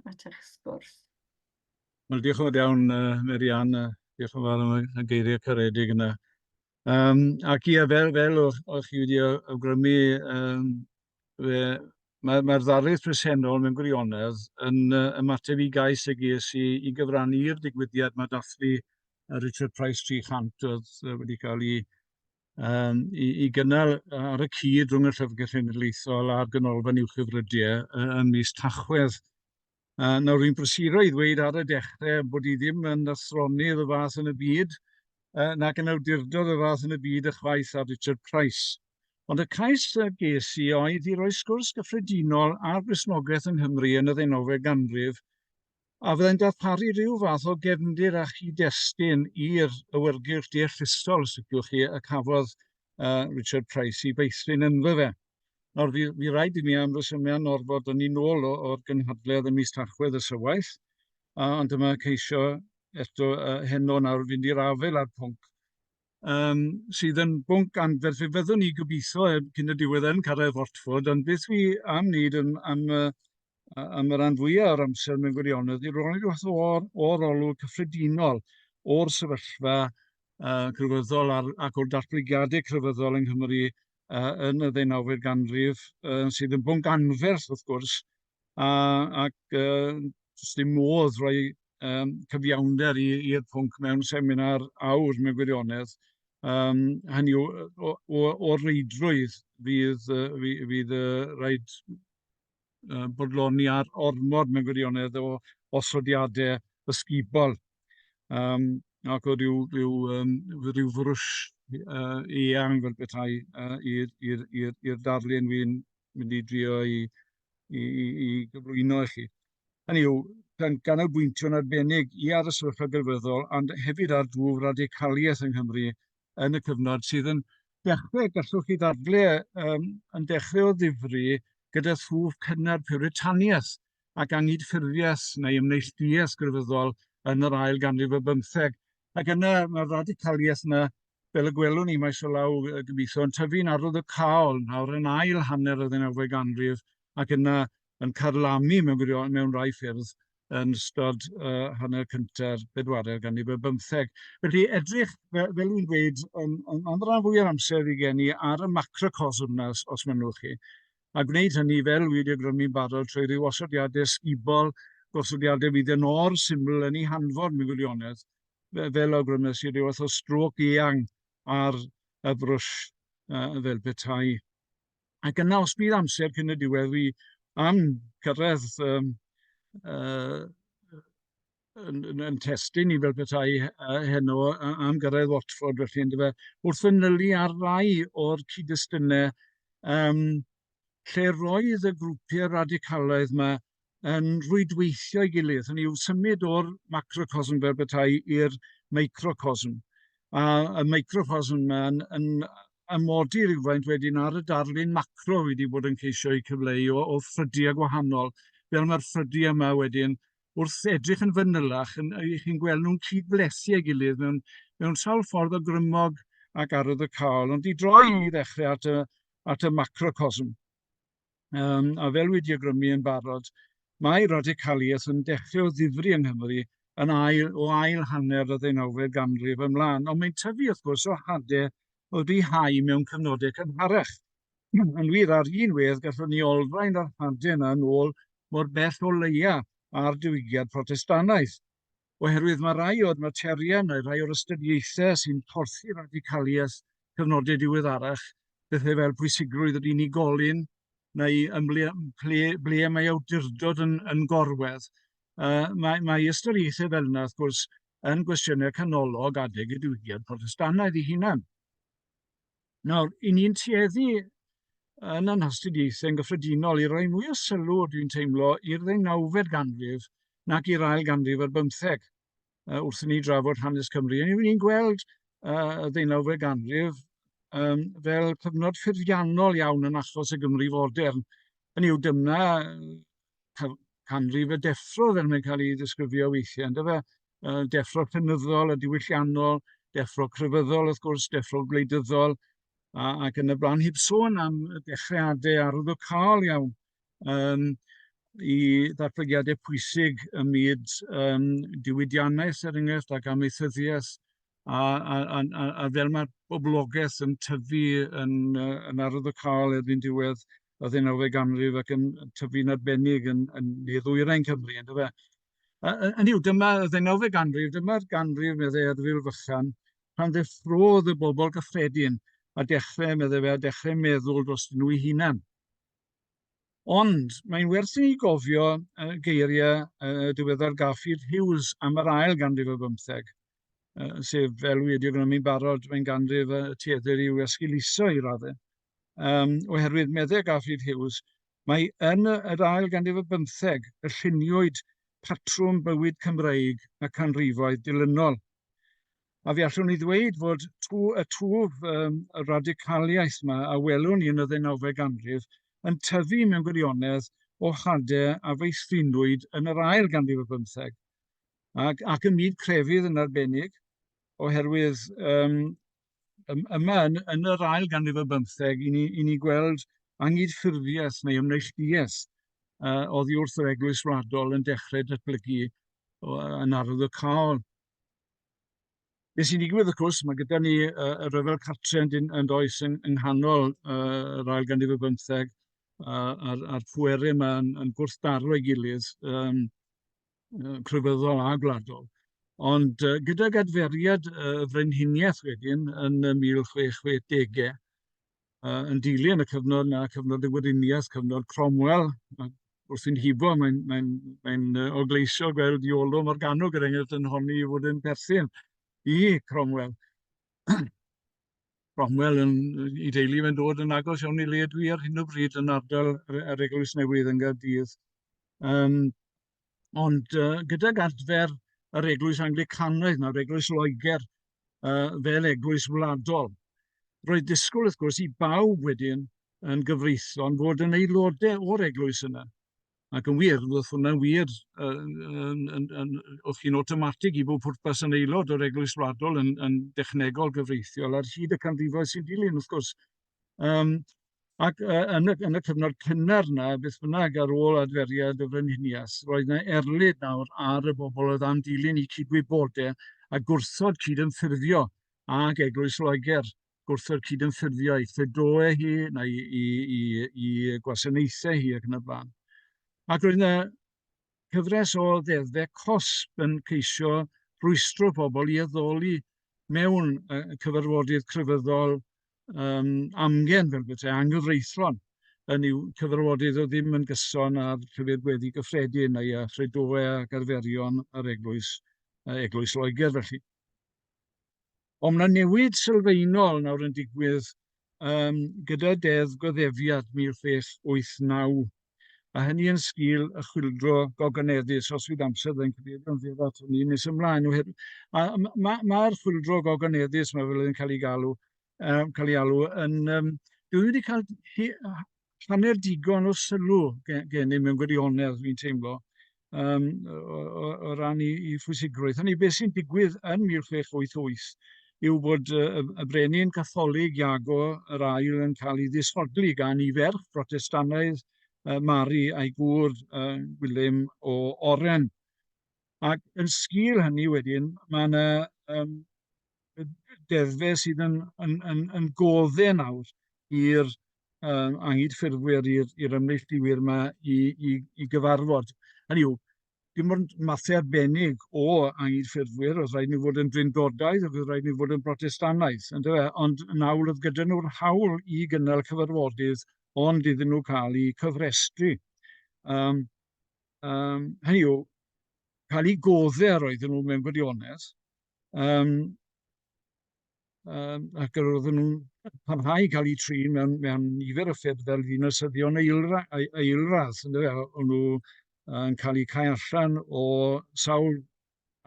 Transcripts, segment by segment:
at eich sgwrs. Wel, diolch yn fawr iawn, uh, Merian, uh, diolch yn fawr am y geiriau caredig yna. Um, ac ia, fel, fel o'ch, or chi wedi awgrymu, um, mae'r mae, mae ddarlith presennol mewn gwirionedd yn uh, ymateb i gais y ges i, i gyfrannu i'r digwyddiad mae dathlu Richard Price 300 oedd wedi cael ei um, i, i gynnal ar y cyd rhwng y Llyfrgell Genedlaethol a'r Ganolfan Uwch Hyfrydiau yn mis Tachwedd. Uh, nawr, rwy'n brysuro i ddweud ar y dechrau bod i ddim yn athronydd y fath yn y byd, uh, nac yn awdurdod y fath yn y byd y chwaith ar Richard Price. Ond y cais y ges i oedd i roi sgwrs gyffredinol ar Gristnogaeth yng Nghymru yn y ddeunawfed ganrif A fyddai'n darparu rhyw fath o gefndir a chyd-destun i'r awyrgylch deallusol, os liciwch chi, y cafodd uh, Richard Price i feithrin ynddo fe. Nawr, fi, fi rhaid i mi am resymiau orfod yn ni'n ôl o'r gynhadledd y mis Tachwedd y sywaith, uh, ond dyma ceisio eto uh, heno nawr fynd i'r afel a'r pwnc um, sydd yn bwnc anferth. Fe fyddwn ni gobeithio heb cyn y diwedd yn cyrraedd Watford, ond beth fi am wneud yn, am, am y rhan fwyaf o'r amser mewn gwirionedd, i'r rhoi rhywbeth o'r, or olwg cyffredinol o'r sefyllfa uh, crefyddol ar, ac o'r datblygiadau crefyddol yng Nghymru uh, yn y ddeunawfed ganrif, uh, sydd yn bwnc anferth wrth gwrs, a ac yy does dim modd rhoi yym cyfiawnder i i'r pwnc mewn seminar awr mewn gwirionedd. Yym hynny yw o o o'r reidrwydd fydd yy fy- fydd yy raid yy bodloni ar ormod mewn gwirionedd o osodiadau ysgubol yym ac o ryw ryw yym ryw frwsh yy eang fel petai yy i'r i'r i'r i'r darlun wi'n mynd i drio i, i, i, i gyflwyno i chi. Hynny yw, gan ganolbwyntio'n arbennig i ar y sefyllfa gylfyddol, ond hefyd ar dwf radicaliaeth yng Nghymru yn y cyfnod sydd yn dechrau, gallwch chi ddadle, um, yn dechrau o ddifri gyda thwf cynnar pywritaniaeth ac angydffurfiaeth neu ymneillduaeth grefyddol yn yr ail ganrif y bymtheg. Ac yna mae'r radicaliaeth yna fel y gwelwn ni, maes o law y gymdeithas yn tyfu'n arwyddocaol nawr yn ail hanner y ddeunawfed ganrif ac yna yn carlamu mewn gwirionedd mewn rhai ffyrdd yn ystod uh, hanner cynta'r bedwaredd ganrif ar bymtheg. Felly edrych, fel, fel dwi'n dweud, yn, yn, yn rhan fwy o'r amser fi gen i ar y macrocosm yna, os, os mynnwch chi, a gwneud hynny fel wedi awgrymu'n barod trwy ryw osodiadau sgubol, gosodiadau fydd yn or syml yn ei hanfod mewn gwirionedd, fel awgrymes i ryw fath o strôc eang ar y brwsh uh, fel petai. Ac yna os bydd amser cyn y diwedd fi am cyrraedd um, uh, yn, yn, yn testyn i fel petai uh, heno am gyrraedd Watford felly yn dyfa wrth fanylu ar rai o'r cyd-destynau um, lle roedd y grwpiau radicalaidd mae yn rhwydweithio'i gilydd, hynny yw symud o'r macrocosm fel bethau i'r microcosm. A y microcosm yma'n yn amodi rhywfaint wedyn ar y darlun macro wedi bod yn ceisio eu cyfleu o, o ffrydiau gwahanol, fel mae'r ffrydiau yma wedyn wrth edrych yn fanylach, yn, chi'n gweld nhw'n cyd-flethu ei gilydd mewn, mewn sawl ffordd o grymog ac arwyddocaol. Ond i droi i ddechrau at y, at y macrocosm. um, a fel wedi agrymu yn barod, mae radicaliaeth yn dechrau o ddifri yng Nghymru yn ail, o ail hanner y ddeunawfed ganrif ymlaen, ond mae'n tyfu wrth gwrs o hadau o rihau mewn cyfnodau cynharach. yn wir ar un wedd gallwn ni olrhain yr hadau yna yn ôl mor bell o leia a'r diwygiad protestanaeth. oherwydd mae rhai o'r materion neu rhai o'r ystyriaethau sy'n porthi radicaliaeth cyfnodau diweddarach, pethau fel pwysigrwydd yr unigolyn neu ymble, ble, ble mae awdurdod yn, yn gorwedd. Uh, mae, mae ystyriaethau fel yna, wrth gwrs, yn gwestiynau canolog adeg y diwygiad Protestannaidd ei hunan. Nawr, i ni'n tueddu yn ein hastudiaethau yn gyffredinol i roi mwy o sylw, dwi'n teimlo, i'r ddeunawfed ganrif nac i'r ail ganrif ar bymtheg uh, wrth i ni drafod hanes Cymru. Yn ni'n gweld uh, y ddeunawfed ganrif um, fel cyfnod ffurfiannol iawn yn achos y Gymru fodern. Yn yw, dyna canrif y deffro fel mae'n cael ei ddisgrifio weithiau, ynddo fe? Deffro cynyddol a diwylliannol, deffro crefyddol wrth gwrs, deffro gwleidyddol, a, ac yn y blaen, heb sôn am dechreuadau arwyddocaol iawn um, i ddatblygiadau pwysig ym myd um, diwydiannaeth, er enghraifft, ac amaethyddiaeth, a, a, a, a, a fel mae'r boblogaeth yn tyfu yn, yn arwyddocaol erbyn diwedd y ddeunawfed ganrif ac yn tyfu'n arbennig yn, yn ne ddwyrain Cymru, yn dyfa. Hynny yw, dyma y ddeunawfed ganrif, dyma'r ganrif, meddai Erfil Fychan, pan ddeffrodd y bobl gyffredin a dechrau, meddai fe, a dechrau meddwl dros nhw i hunan. Ond mae'n werth i ni gofio uh, geiriau uh, diweddar Garfield Hughes am yr ail ganrif o bymtheg, uh, sef fel wedi gwneu'n barod, mae'n ganrif y tueddir i'w esgiluso i raddau. um, oherwydd meddeg Garfield Hughes, mae yn yr ail ganrif y bymtheg y lluniwyd patrwm bywyd Cymreig y canrifoedd dilynol. A fi allwn ni ddweud fod tw, y twf um, y radicaliaeth yma a welwn ni yn y ddeunawfed ganrif yn tyfu mewn gwirionedd o hadau a feithrinwyd yn yr ail ganrif y bymtheg ac, ac ym myd crefydd yn arbennig, oherwydd um, yma yn, yn yr ail ganrif ar bymtheg, i ni, i ni gweld angydffurfiaeth neu ymneillduaeth uh, oddi wrth yr eglwys wladol yn dechrau datblygu yn arwyddocaol. Beth sy'n digwydd, wrth gwrs, mae gyda ni uh, y rhyfel cartre yn, yn does yng, yng nghanol uh, yr ail ganrif ar bymtheg, uh, a'r, ar pwerau yma yn, yn gwrthdaro ei gilydd. Um, crefyddol a gwladol. Ond uh, gydag adferiad y uh, frenhiniaeth wedyn yn y 1660au, uh, yn dilyn y cyfnod na cyfnod y gweriniaeth, cyfnod Cromwell, wrth i'n hibo, mae'n mae mae uh, ogleisio gweld Iolo Morganwg, er enghraifft, yn honni i fod yn perthyn i Cromwell. Cromwell yn ei deulu fe'n dod yn agos iawn i le dwi ar hyn o bryd yn ardal yr Eglwys Newydd yn Gaerdydd. Um, ond uh, gydag adfer yr Eglwys Anglicanaidd, nawr Eglwys Loegr, uh, fel Eglwys Wladol, roedd disgwyl wrth gwrs i bawb wedyn yn gyfreithlon fod yn aelodau o'r Eglwys yna. Ac yn wir, roedd hwnna'n wir wrth chi'n awtomatig i bob pwrpas yn aelod o'r Eglwys Wladol yn, yn dechnegol gyfreithiol ar hyd y canrifoedd sy'n dilyn, wrth gwrs. Um, ac uh, yn, y, yn y cyfnod cynnar yna, beth bynnag ar ôl adferiad y frenhinias, roedd yna erlid nawr ar y bobl oedd am dilyn i cydwybodau a gwrthod cydymffurfio ag Eglwys Loegr gwrthod cydymffurfio i Fedoe hi, neu i, i, i, i gwasanaethau hi ac yn y blaen. Ac roedd yna cyfres o ddeddfe cosb yn ceisio rwystro pobl i addoli mewn cyfarfodydd crefyddol um, amgen fel bethau anghyfreithlon yn yw cyfarfodydd o ddim yn gyson â'r llyfr gweddi gyffredin neu a chredoau ac arferion yr eglwys, eglwys Loegr felly. Ond mae 'na newid sylfaenol nawr yn digwydd um, gyda Deddf Goddefiad 1689, a hynny yn sgil y chwildro gogoneddus, os fydd amser fe'n cyfeirio'n fyr at hynny nes ymlaen. Mae'r ma, ma chwildro gogoneddus, mae fel yn cael ei galw, um, cael ei alw, yn, um, dwi wedi cael hanner digon o sylw gennym mewn gwirionedd, fi'n teimlo, um, o, o, o ran i, i phwysigrwydd. Hynny, beth sy'n digwydd yn 1688 yw bod y, y brenin Catholig Iago yr ail yn cael ei ddisodli gan i ferch Protestanaidd uh, Mari a'i gŵr uh, Gwilym o Oren. Ac yn sgil hynny wedyn, mae yna um, deddfe sydd yn, yn, yn, yn godde nawr i'r um, anghydffurfwyr, i'r ymneilltuwyr yma i, i, i gyfarfod. Hynny yw, dim ond mathau arbennig o anghydffurfwyr, oedd rhaid ni fod yn drindodaidd, oedd rhaid ni fod yn brotestanaidd, ond, e, ond yn awr oedd gyda nhw'r hawl i gynnal cyfarfodydd, ond iddyn nhw cael eu cyfrestru. Um, um, hynny yw, cael eu godde ar oedden nhw mewn gwirionedd, Yym yym ac yr oedden nhw'n parhau i cael eu trin mewn mewn nifer o ffyrdd fel dinasyddion eilra- ei- eilradd yndyfe. O- o'n nhw yn cael eu cau allan o sawl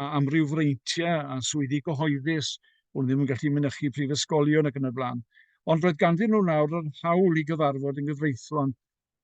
a- amryw freintiau a swyddi cyhoeddus, o'n nhw ddim yn gallu mynychu prifysgolion ac yn y blaen. Ond roedd ganddyn nhw nawr yr hawl i gyfarfod yn gyfreithlon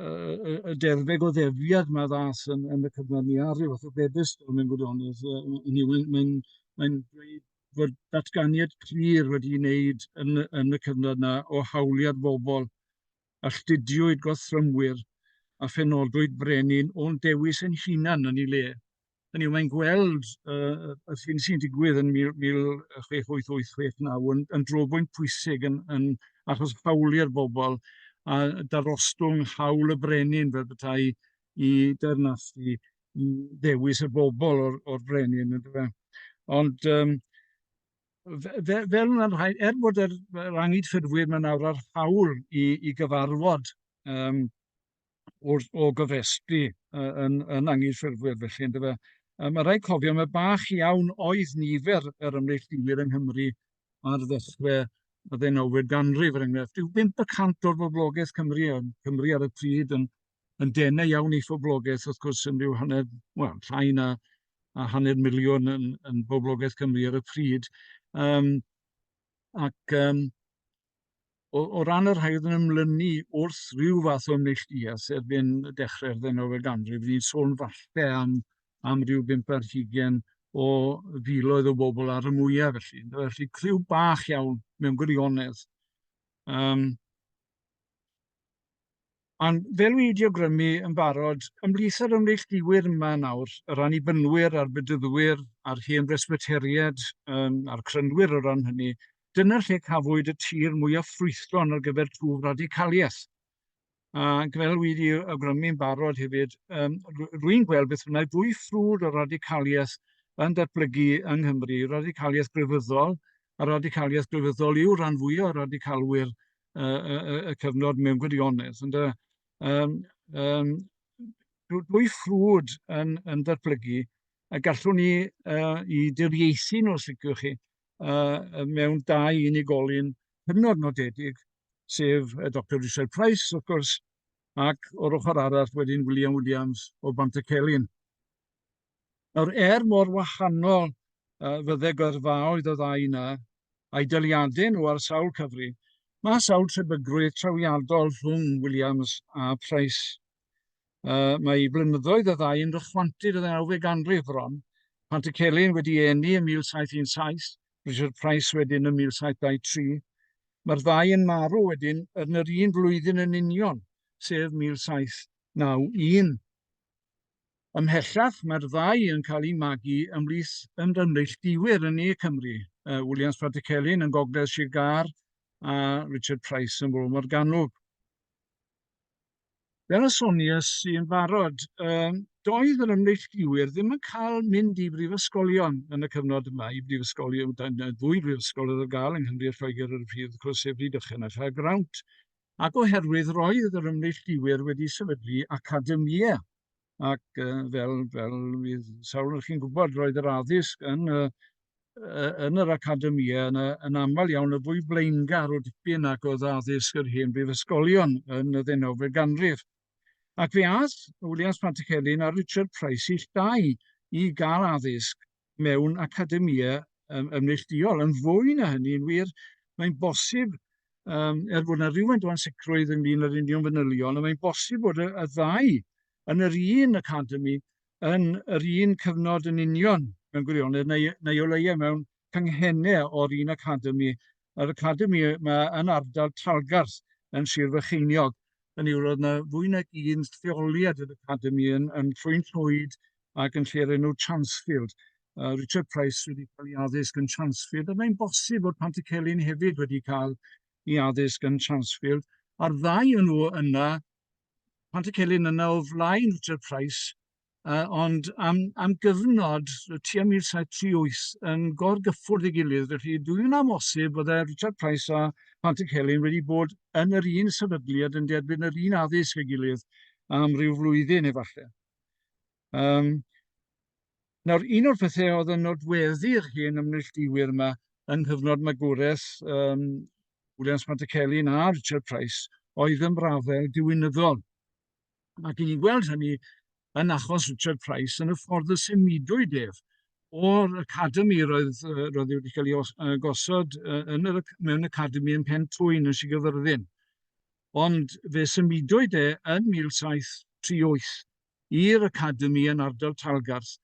y, y derfeg o ddefiad mae ddas yn, yn y cyfnod ni ar ryw fath o bedestol mewn gwirionedd. Hynny mae'n mae mae dweud bod datganiad clir wedi ei wneud yn, yn y cyfnod yna o hawliad bobl a lludiwyd gothrymwyr a phenodwyd brenin o'n dewis yn hunan yn ei le. Hynny yw, mae'n gweld uh, y hyn sy'n digwydd yn 1688-69 yn, yn drobwynt pwysig yn, yn achos hawliau'r bobl a darostwng hawl y brenin fel bethau i dernasu i ddewis y bobl o'r, or brenin. Ond um, fe, fel yna'n rhai, er bod yr, yr angyd ffurfwyr mae'n awr ar hawl i, i gyfarfod um, wrth, o gyfestu yn, yn anghydffurfwyr felly, ynddo fe. Um, mae rhaid cofio, mae bach iawn oedd nifer yr ymneilltuwyr yng Nghymru ar ddechrau y ddeunawfed ganrif, er enghraifft. Rhyw 5% o'r boblogaeth Cymru, yn Cymru ar y pryd, yn, yn denau iawn i phoblogaeth, wrth gwrs, yn rhyw hanner, wel, llai na a hanner miliwn yn, yn boblogaeth Cymru ar y pryd. Um, ac um, o, o ran y rhai oedd yn ymlynu wrth rhyw fath o neilltuas erbyn dechrau'r ddeunawfed ganrif, ni'n sôn falle am, am ryw bimp ar hugen o filoedd o bobl ar y mwyaf felly. Felly criw bach iawn mewn gwirionedd. Um, Ond fel wi wedi awgrymu yn barod, ymhlith yr ymneillduwyr yma nawr, yr annibynwyr a'r bedyddwyr a'r hen Bresbyteriaid um, a'r crynwyr o ran hynny, dyna lle cafwyd y tir mwyaf ffrwythlon ar gyfer twf radicaliaeth. A fel wi wedi awgrymu'n barod hefyd, um, rwy'n gweld beth bynnag fwy ffrwd o radicaliaeth yn datblygu yng Nghymru, radicaliaeth grefyddol, a radicaliaeth grefyddol yw rhan fwyaf o radicalwyr y, y, y, y cyfnod mewn gwirionedd. Ond, um, um, dwy ffrwd yn, yn datblygu a gallwn ni uh, i diriaethu nhw, os licwch chi, uh, mewn dau unigolyn hynod nodedig, sef y Dr Richard Price, wrth gwrs, ac o'r ochr arall wedyn William Williams o Bantycelyn. Nawr, er mor wahanol uh, fydde gyrfaoedd y ddau yna, a'i dyliadau nhw ar sawl cyfri, mae sawl trebygrwydd trawiadol rhwng Williams a Price. Uh, mae i blynyddoedd y ddau yn rychwantydd y ddeunawfed ganrif bron, pan y Celyn wedi eni ym 1717, Richard Price wedyn ym 1723. Mae'r ddau yn marw wedyn yn yr un flwyddyn yn union, sef 1791. Ymhellach, mae'r ddau yn cael eu magu ymhlith ymneillduwyr yn Ne Cymru, Williams Pratecelyn yn Gogledd Sir Gâr a Richard Price yn Fro Morgannwg. Fel y sonies i'n barod, doedd yr ymneillduwyr ddim yn cael mynd i brifysgolion yn y cyfnod yma, i brifysgolion, ddwy brifysgol oedd ar gael yng Nghymru a Lloegr ar y pryd, wrth gwrs, sef Rhydychen a Chaergrawnt. Ac oherwydd roedd yr ymneilltuwyr wedi sefydlu academïau, ac uh, fel, fel fydd sawl yn chi'n gwybod, roedd yr addysg yn, uh, yn yr academïau yn, yn aml iawn yn fwy blaengar o dipyn ac oedd addysg yr hen brifysgolion yn y ddeunawfed ganrif. Ac fe ath Williams Pantycelyn a Richard Price ill dau i gael addysg mewn academïau um, ymneillduol. Yn fwy na hynny, yn wir, mae'n bosib, um, er bod yna rhywfaint o ansicrwydd ynglyn â'r union fanylion, ond mae'n bosib bod y, y ddau yn yr un academi yn yr un cyfnod yn union mewn gwirionedd, neu, neu o leiau mewn cynghennau o'r un academi. Yr academi yma yn ardal Talgarth yn Sir Fycheiniog, yn yw roedd yna fwy nag un lleoliad yr academi yn, yn Llwyn Llwyd, ac yn lle'r enw Chansfield. Uh, Richard Price wedi cael ei addysg yn Chansfield, a mae'n bosib bod Pantycelyn hefyd wedi cael ei addysg yn Chansfield, a'r ddau yn nhw yna, Pantycelyn yna o flaen Richard Price, uh, ond am, am gyfnod y tua 1738 yn gorgyffwrdd ei gilydd, felly dwi yn amosib bod e Richard Price a Pantycelyn wedi bod yn yr un sefydliad yn derbyn yr un addysg ei gilydd am ryw flwyddyn efallai. Um, nawr, un o'r pethau oedd yn nodweddu'r hen ymneillduwyr yma yng nghyfnod magwraeth um, Williams Montecelli a Richard Price oedd ymrafael diwinyddol. Ac i ni'n gweld hynny yn achos Richard Price yn y ffordd y symudwyd ef o'r academi roedd, roedd wedi cael ei gosod yn yr, mewn academi yn Pen Twyn yn Sir Gyfyrddin. ond fe symudwyd e yn 1738 i'r Academi yn ardal Talgarth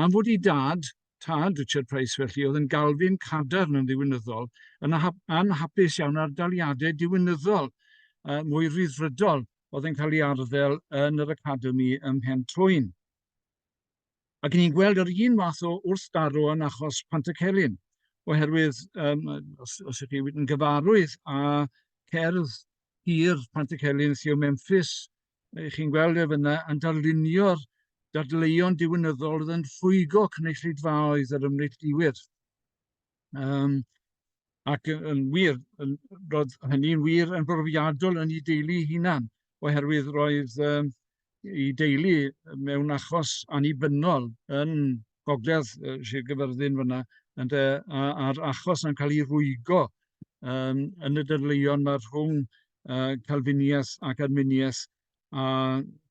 am fod ei dad, tad Richard Price felly, oedd yn Galfin cadarn yn ddiwinyddol, yn anhapus iawn â'r daliadau diwinyddol mwy rhyddfrydol oedd yn cael ei arddel yn yr Academi ym Mhen Twyn. Ac ni'n gweld yr un fath o wrthdaro yn achos Pantycelyn, oherwydd um, os, os ydych chi yn gyfarwydd â cerdd hir Pantycelyn Theo Memphis, chi'n gweld ef yna yn darlunio'r dadleuon diwinyddol oedd yn rhwygo cynulleidfaoedd yr ymneillduwyr. Yym ac yy yn wir, yn roedd hynny'n wir yn brofiadol yn ei deulu ei hunan, oherwydd roedd yym ei deulu mewn achos annibynnol yn gogledd yy Sir Gaerfyrddin fan'na ynde, a a'r achos yn cael ei rwygo yym yn y dadleuon 'ma rhwng yy Calfiniaeth ac Arminiaeth a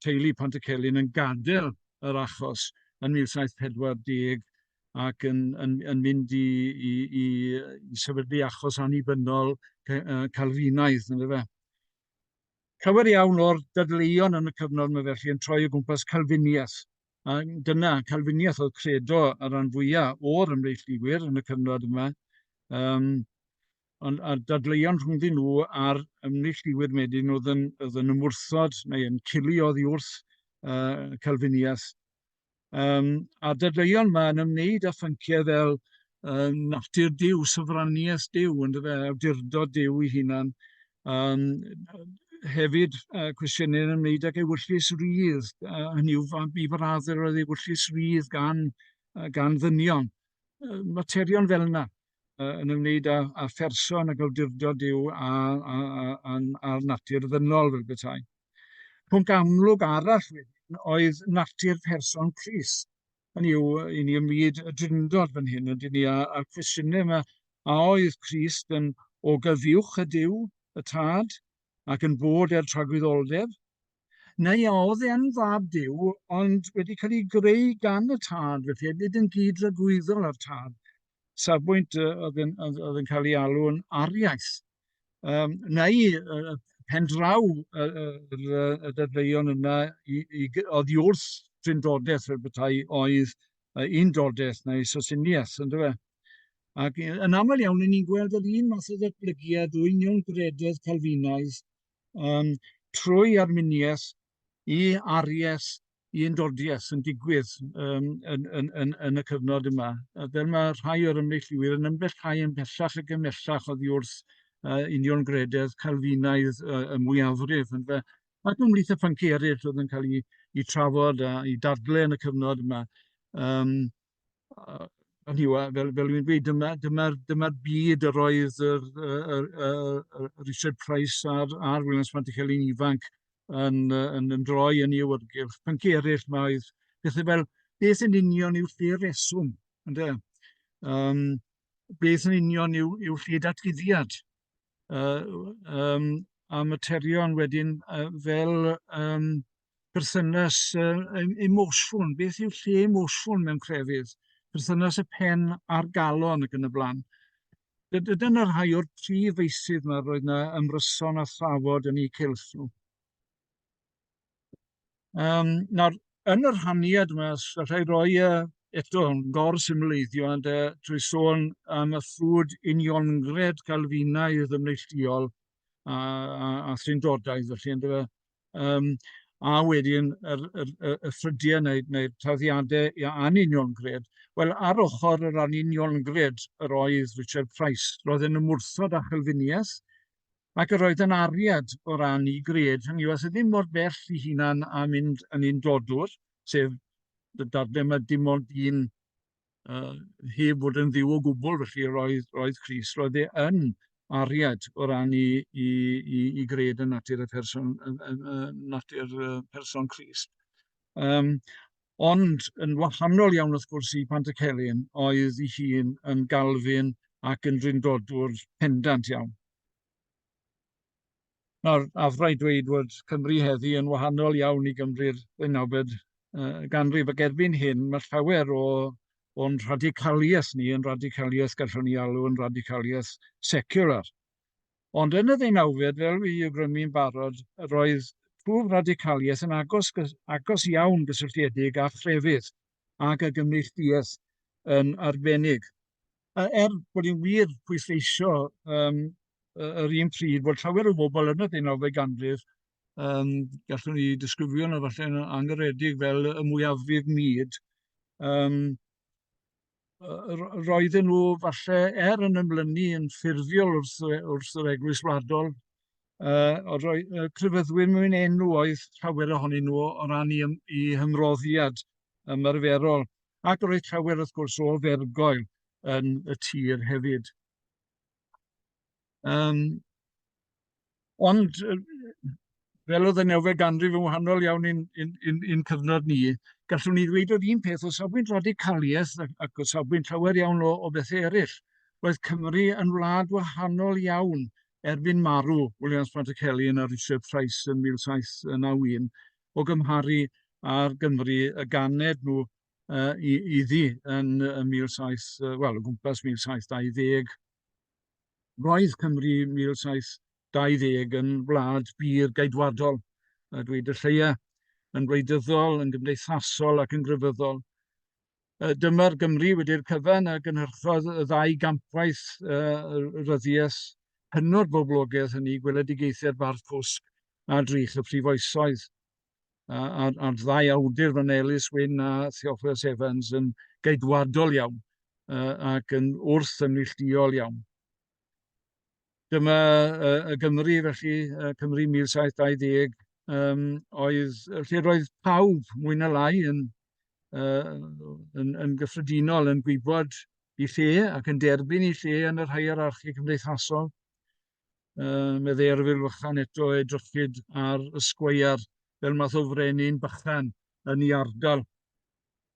teulu Pont-y-celyn yn gadael yr achos yn 1740 ac yn yn yn mynd i i i i sefydlu achos annibynnol Calfinaidd ynde fe. Llawer iawn o'r dadleuon yn y cyfnod yma felly yn troi o gwmpas Calfiniaeth. A dyna, Calfiniaeth oedd credo y rhan fwyaf o'r ymreichliwyr yn y cyfnod yma. Um, Ond a dadleuon rhyngddyn nhw a'r ymneillduwyr wedyn oedd yn oedd yn ymwrthod neu yn cili oddi wrth yy Calviniaeth. Yym a dadleuon ma yn ymwneud â phynciau fel yy natur Duw, sofraniaeth Duw ynde fe, awdurdod Duw ei hunan. Yym hefyd yy cwestiynau yn ymwneud ag ewyllys rydd, yy hynny yw fa- i fy radd yr oedd ewyllys rydd gan yy gan ddynion. Yy materion fel yna. uh, yn ymwneud â, â pherson ac awdurdod Dyw a, a, a, a, a'r natur ddynol fel bethau. Pwnc amlwg arall wedyn oedd natur person Cris. Yn yw, i ni ymwyd y drindod fan hyn, ydy ni a'r cwestiynau yma, a oedd Christ yn o gyfiwch y Dyw, y Tad, ac yn bod er tragwyddoldeb, neu a oedd e'n fab Duw, ond wedi cael ei greu gan y tad, felly hefyd yn gyd-dragwyddol â'r tad, safbwynt yy oedd yn oedd oedd yn cael ei alw'n ariaeth. Yym, neu yy pen draw y, y, y, y dadleuon yna i, i, oedd i wrth drindodeth fel bethau oedd uh, undodeth neu sosiniaeth, ynddo fe? Ac yn aml iawn, ni'n gweld yr un math o ddatblygiad o union grededd Calfinaidd yym trwy Arminius i Aries i Undodius yn digwydd yym yn yn yn yn y cyfnod yma. A fel mae rhai o'r ymneilltuwyr yn ymbellhau ymhellach ac ymhellach oddi wrth yy union grededd Calfinaidd y, y mwyafrif yndyfe. Ac ymhlith y phynciau eraill oedd yn cael eu, eu trafod a i dadle yn y cyfnod yma. Um, Ond yw e, fel fel dwi'n gweud, dyma dyma'r dyma'r byd yr oedd yr yy yr yy Richard Price a'r a'r Williams Pantycelyn ifanc yn yy yn yn droi yn ei awyrgylch. Pyncie eraill mae oedd pethau fel beth yn union yw'r lle reswm, ynde? Yym beth yn union yw yw lle datguddiad? Yy yym a materion wedyn yy fel yym perthynas uh, emosiwn, beth yw lle emosiwn mewn crefydd, perthynas y pen a'r galon ac yn y blaen. Dyna rhai o'r prif feisydd yma roedd yna ymryson a thrafod yn eu cylch nhw. Um, nawr, yn yr haniad yma, rhai roi uh, eto gor symleiddio ond uh, trwy sôn am y ffrwd uniongred Calfinaidd ymneilltuol a, a, a thrindodaidd, felly ynddo fe, yym a wedyn yr yr y y ffrydiau neu neu'r tarddiadau ia anuniongred. Wel, ar ochr yr anuniongred yr oedd Richard Price. Roedd yn ymwrthod â Chalfiniaeth ac yr oedd yn ariad o ran ei gred, hynny yw, aeth e ddim mor bell i hunan â mynd yn undodwr, sef y darllen mae dim ond un uh, heb fod yn ddiw o gwbl, felly roedd, roedd Cris, roedd e yn ariad o ran i, i, i, i gred y natur y person, y, y, y natur y person Cris. Um, ond yn wahanol iawn wrth gwrs i Pantycelyn oedd ei hun yn galfyn ac yn rindodwr pendant iawn. Nawr, nawr, rhaid dweud bod Cymru heddi yn wahanol iawn i Gymru'r ddeunawfed uh, ganrif ac erbyn hyn mae llawer o o'n radicaliaeth ni yn radicaliaeth gallwn ni alw yn radicaliaeth secular. Ond yn y ddeunawfed, fel fi yw grymu'n barod, roedd twf radicaliaeth yn agos, agos iawn gysylltiedig â chrefydd ac â gymneilltuaeth yn arbennig. A er bod ni'n wir pwysleisio yym yy yr un pryd bod llawer o bobl yn y ddeunawfed ganrif, yym gallwn ni disgrifio nhw falle'n anghyffredin fel y mwyafrif mud, yym yy ro- roedden nhw falle er yn ymlynu yn ffurfiol wrth y- wrth yr Eglwys Wladol, yy o roi yy crefyddwyr mewn enw oedd llawer ohonyn nhw o ran 'u ym- 'u hymroddiad ymarferol. ac roedd llawer wrth gwrs o ofergoel yn y tir hefyd. Um, ond fel oedd y newfe ganrif yn wahanol iawn i'n in, in, in cyfnod ni, gallwn ni ddweud yr un peth o safbwynt radicaliaeth ac o safbwynt llawer iawn o, o bethau eraill. Roedd Cymru yn wlad wahanol iawn erbyn marw Williams Pantacelli yn yr Richard Price yn 1791 o gymharu â'r Gymru y ganed nhw uh, i, iddi yn y 17, wel, o gwmpas 1720. Roedd Cymru 1720 yn wlad bur gaedwadol, a dweud y lleia, yn wleidyddol, yn gymdeithasol ac yn grefyddol. Yy dyma'r Gymru wedi'r cyfan a gynhyrchodd y ddau gampwaith yy ryddiaith hynod boblogaidd hynny, gweledigaethiad Bardd Cwsg a Drych y Prif Oesoedd. A, a, a'r ddau awdur fan Elis Wyn a Theophilus Evans yn geidwadol iawn uh, ac yn wrth ymneillduol iawn. Dyma y, y Gymru, felly, y Cymru 1720, um, oedd lle roedd pawb, mwy na lai, yn, uh, yn, yn gyffredinol yn gwybod i lle ac yn derbyn i lle yn yr hierarchi cymdeithasol. Uh, mae dde arfil fychan eto edrychyd ar y sgweiar fel math o frenin bychan yn ei ardal.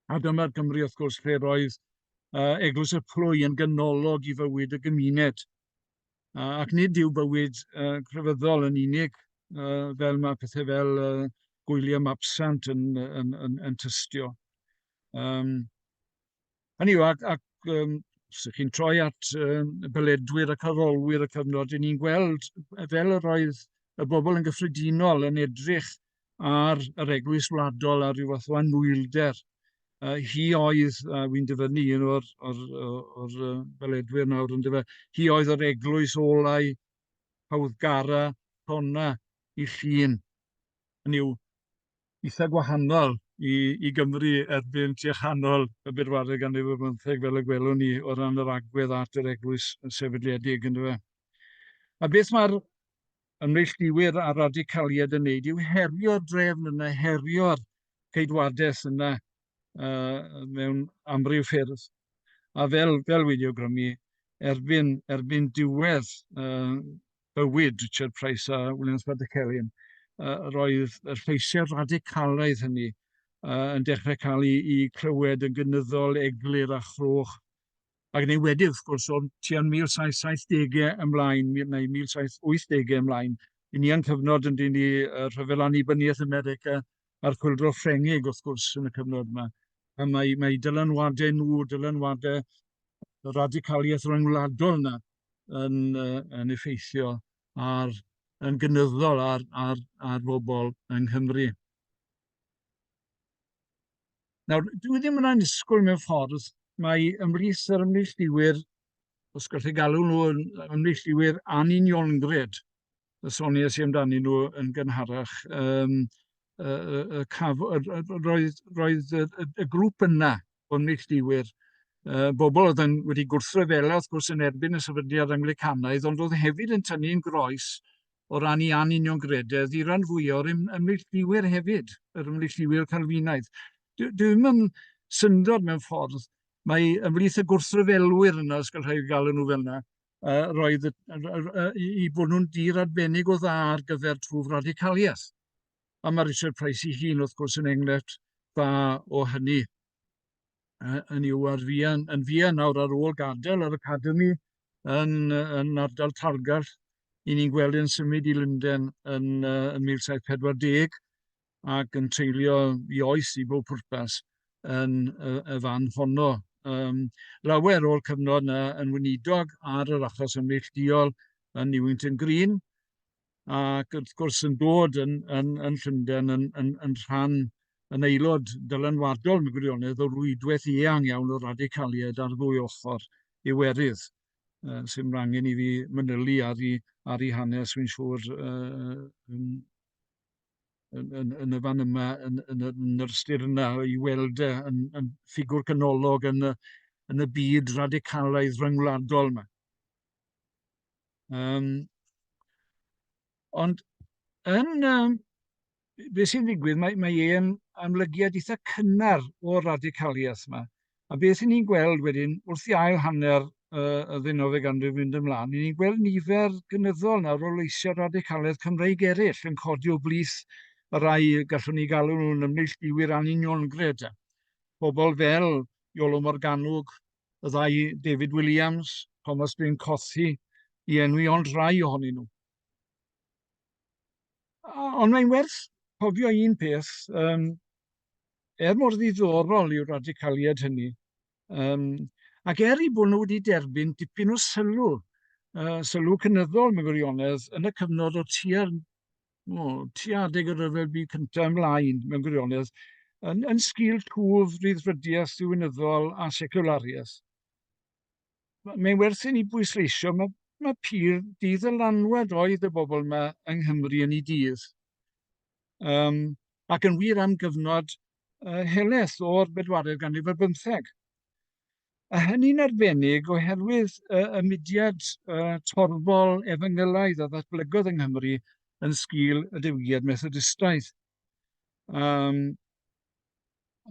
A dyma'r Gymru, wrth gwrs, lle roedd uh, Eglwys y Plwy yn gynolog i fywyd y gymuned. Uh, ac nid yw bywyd uh, crefyddol yn unig, uh, fel mae pethau fel uh, gwyliau mabsant yn, yn, yn, yn tystio. Um, hynny yw, ac, ac um, sych chi'n troi at um, beledwyr ac arolwyr y cyfnod, ni'n gweld fel yr oedd y bobl yn gyffredinol yn edrych ar yr Eglwys Wladol a rhyw fath o anwylder. Uh, hi oedd, uh, wy'n dyfynnu un o'r, or, or, or, uh, beledwyr nawr yn dyfa, hi oedd yr eglwys olau hawddgara tona i llun. Yn yw eitha gwahanol i, i Gymru erbyn tua chanol y bedwaredd ganrif ar bymtheg fel y gwelwn ni o ran yr agwedd at yr eglwys sefydliedig yn dyfa. A beth mae'r ymneillduwyr a'r radicaliaid yn wneud yw herio'r drefn yna, herio'r ceidwades yna uh, mewn amryw ffyrdd. A fel, fel wedi awgrymu, erbyn, erbyn diwedd uh, bywyd Richard Price a Williams Baddecellion, uh, roedd y lleisiau radicalaidd hynny uh, yn dechrau cael ei, ei clywed yn gynyddol, eglur a chroch Ac yn enwedig, wrth gwrs, o'n tua'n 1770au ymlaen, neu 1780au ymlaen, i ni a'n cyfnod yn dyn ni y rhyfel annibyniaeth yn America a'r chwildro Ffrengig, wrth gwrs, yn y cyfnod yma. A mae, mae dylanwadau nhw, dylanwadau y radicaliaeth ryngwladol yna yn, uh, yn effeithio ar, yn gynyddol ar, ar, ar bobl yng Nghymru. Nawr, dwi ddim yn annisgwyl mewn ffordd mae ymrith yr ymneillduwyr, os gallwch chi galw nhw yn ymneillduwyr anuniongred, y soniais i amdani nhw yn gynharach, um, y, y, y caf, y, y, roedd, roedd y, y, y grŵp yna o ymneillduwyr, uh, bobl oedd yn wedi gwrthryfela wrth gwrs yn erbyn y sefydliad Anglicanaidd, ond oedd hefyd yn tynnu'n groes o ran ei anuniongrededd i ran fwy o'r ymneillduwyr hefyd, yr ymneillduwyr Calfinaidd. Dwi'n yn syndod mewn ffordd, mae ymhlith y gwrthryfelwyr yna, os gael rhaid gael nhw fel yna, uh, roedd y, uh, i bod nhw'n dir arbennig o dda ar gyfer twf radicaliaeth. A mae Richard Price i hun, wrth gwrs, yn enghraifft dda o hynny. uh, yn yw ar fian, yn fian nawr ar ôl gadael yr academi yn, yn ardal Targall. I ni'n gweld yn symud i Lunden yn, uh, yn 1740 ac yn treulio i oes i bob pwrpas yn y, y fan honno. Um, lawer o'r cyfnod yna yn wynidog ar yr achos ymneillduol yn Newington Green, ac wrth gwrs yn dod yn, yn, yn Llundain yn, yn, yn rhan yn aelod dylanwadol yn gwirionedd o rwydwaith eang iawn o radicaliaid ar ddwy ochr Iwerydd, uh, sy'n rangen i fi mynylu ar ei, ar ei hanes, fi'n siŵr, uh, yn, yn, yn, yn y fan yma, yn, yn, yn yr ystyr yna, i weld e yn, yn ffigwr canolog yn y, yn y byd radicalaidd rhyngwladol yma. Yym ond yn yym be sy'n digwydd, mae mae e'n amlygiad eitha cynnar o'r radicaliaeth yma. A beth ni'n gweld wedyn, wrth i ail hanner y ddeunawfed ganrif fynd ymlaen, ni'n gweld nifer gynyddol nawr o leisiau radicaliaeth Cymreig eraill yn codi o blith y rai gallwn ni galw nhw'n ymneilltuwyr anuniongred. Pobl fel Iolo Morganwg, y ddau David Williams, Thomas Bryn Cothi, i enwi ond rhai ohonyn nhw. Ond mae'n werth cofio un peth, um, er mor ddiddorol yw'r radicaliad hynny, um, ac er i bod nhw wedi derbyn dipyn o sylw, uh, sylw cynyddol mewn gwirionedd, yn y cyfnod o tua'r o, tua adeg y Rhyfel Byd Cyntaf ymlaen, mewn gwirionedd, yn, yn sgil twf ryddfrydiaeth ddiwinyddol a seciwlariaeth. Mae'n werth i ni bwysleisio, mae, mae pur diddylanwad oedd y bobl yma yng Nghymru yn ei dydd. Um, ac yn wir am gyfnod uh, heleth o'r bedwaredd ganrif ar bymtheg. A hynny'n arbennig oherwydd y, y mudiad y, torfol efengylaidd a ddatblygodd yng Nghymru yn sgil y diwygiad Methodistaidd. Um,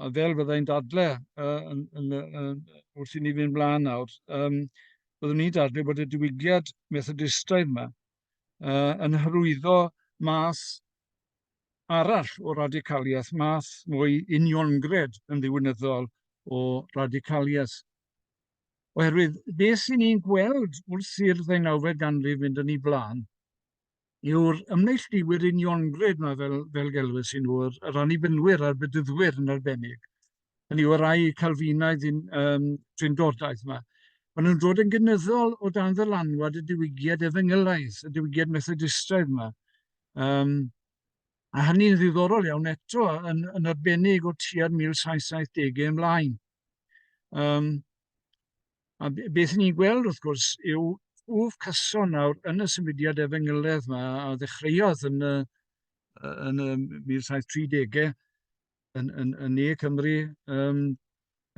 a fel fyddai'n dadle uh, yn, yn, yn, wrth i ni fynd mlaen nawr, um, byddwn ni'n dadle bod y diwygiad Methodistaidd yma uh, yn hyrwyddo math arall o radicaliaeth, math mwy uniongred yn ddiwynyddol o radicaliaeth. Oherwydd, beth sy'n ni'n gweld wrth i'r ddeunawfed ganrif fynd yn ei blaen yw'r ymneillduwyr uniongred yma fel, fel gelwys i nhw, yr, yr annibynnwyr a'r bedyddwyr yn arbennig, hynny yw y rai Calfinaidd yn um, Trindodaidd yma, maen nhw'n dod yn gynyddol o dan ddylanwad y diwygiad efengylaidd, y diwygiad Methodistraidd yma. Um, a hynny'n ddiddorol iawn eto yn, yn arbennig o tua'r 1770au ymlaen. Um, a beth ni'n gweld wrth gwrs yw twf cyson nawr yn y symudiad efengyledd yma a ddechreuodd yn y, yn y 1730au yn, yn, yn ne Cymru. Um,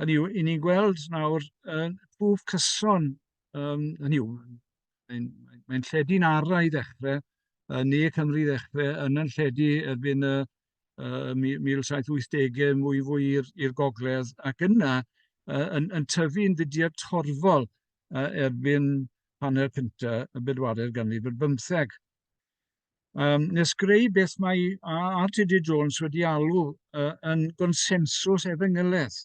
hynny yw, i ni'n gweld nawr um, twf cyson, um, hynny yw, mae'n mae, mae lledu'n ara i ddechrau, yn ne Cymru i ddechrau, yn yn lledu erbyn y uh, 1780au mwy fwy i'r gogledd, ac yna uh, yn, yn tyfu'n fudiad torfol uh, erbyn hanner cyntaf y bedwaredd ganrif ar bymtheg. um, nes greu beth mae RTD Jones wedi alw uh, yn gonsensws efengyledd.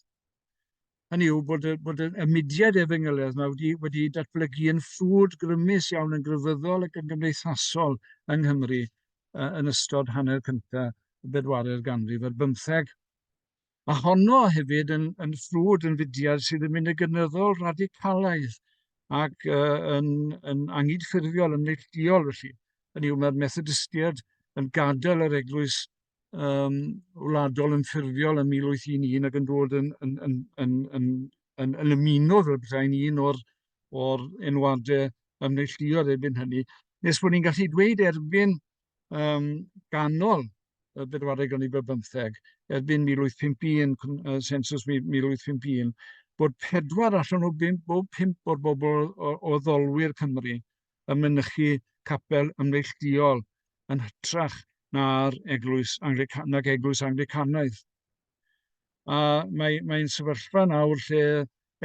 Hynny yw bod, bod y mudiad efengyledd yma wedi, wedi datblygu yn ffrwd grymus iawn yn gryfyddol ac yn gymdeithasol yng Nghymru uh, yn ystod hanner cyntaf y bedwaredd ganrif ar bymtheg. Mae honno hefyd yn, yn ffrwd yn fudiad sydd yn mynd y gynyddol radicalaidd ac uh, yn, yn angydffurfiol, yn neillduol felly. Hynny yw, mae'r Methodistiaid yn gadael yr eglwys um, wladol yn ffurfiol yn 1811 ac yn dod yn, yn, yn, yn, yn, yn, yn ymuno fel bethau'n un o'r, or enwadau ymneillduol erbyn hynny. Nes bod ni'n gallu dweud erbyn um, ganol y bedwaredd ganrif ar bymtheg, erbyn 1851, uh, sensus 1851, bod pedwar allan o bimp, bob pimp o'r bobl o, o ddolwyr Cymru yn mynychu capel ymneillduol yn hytrach na'r eglwys Anglican, nag eglwys Anglicanaidd. A mae'n mae sefyllfa nawr lle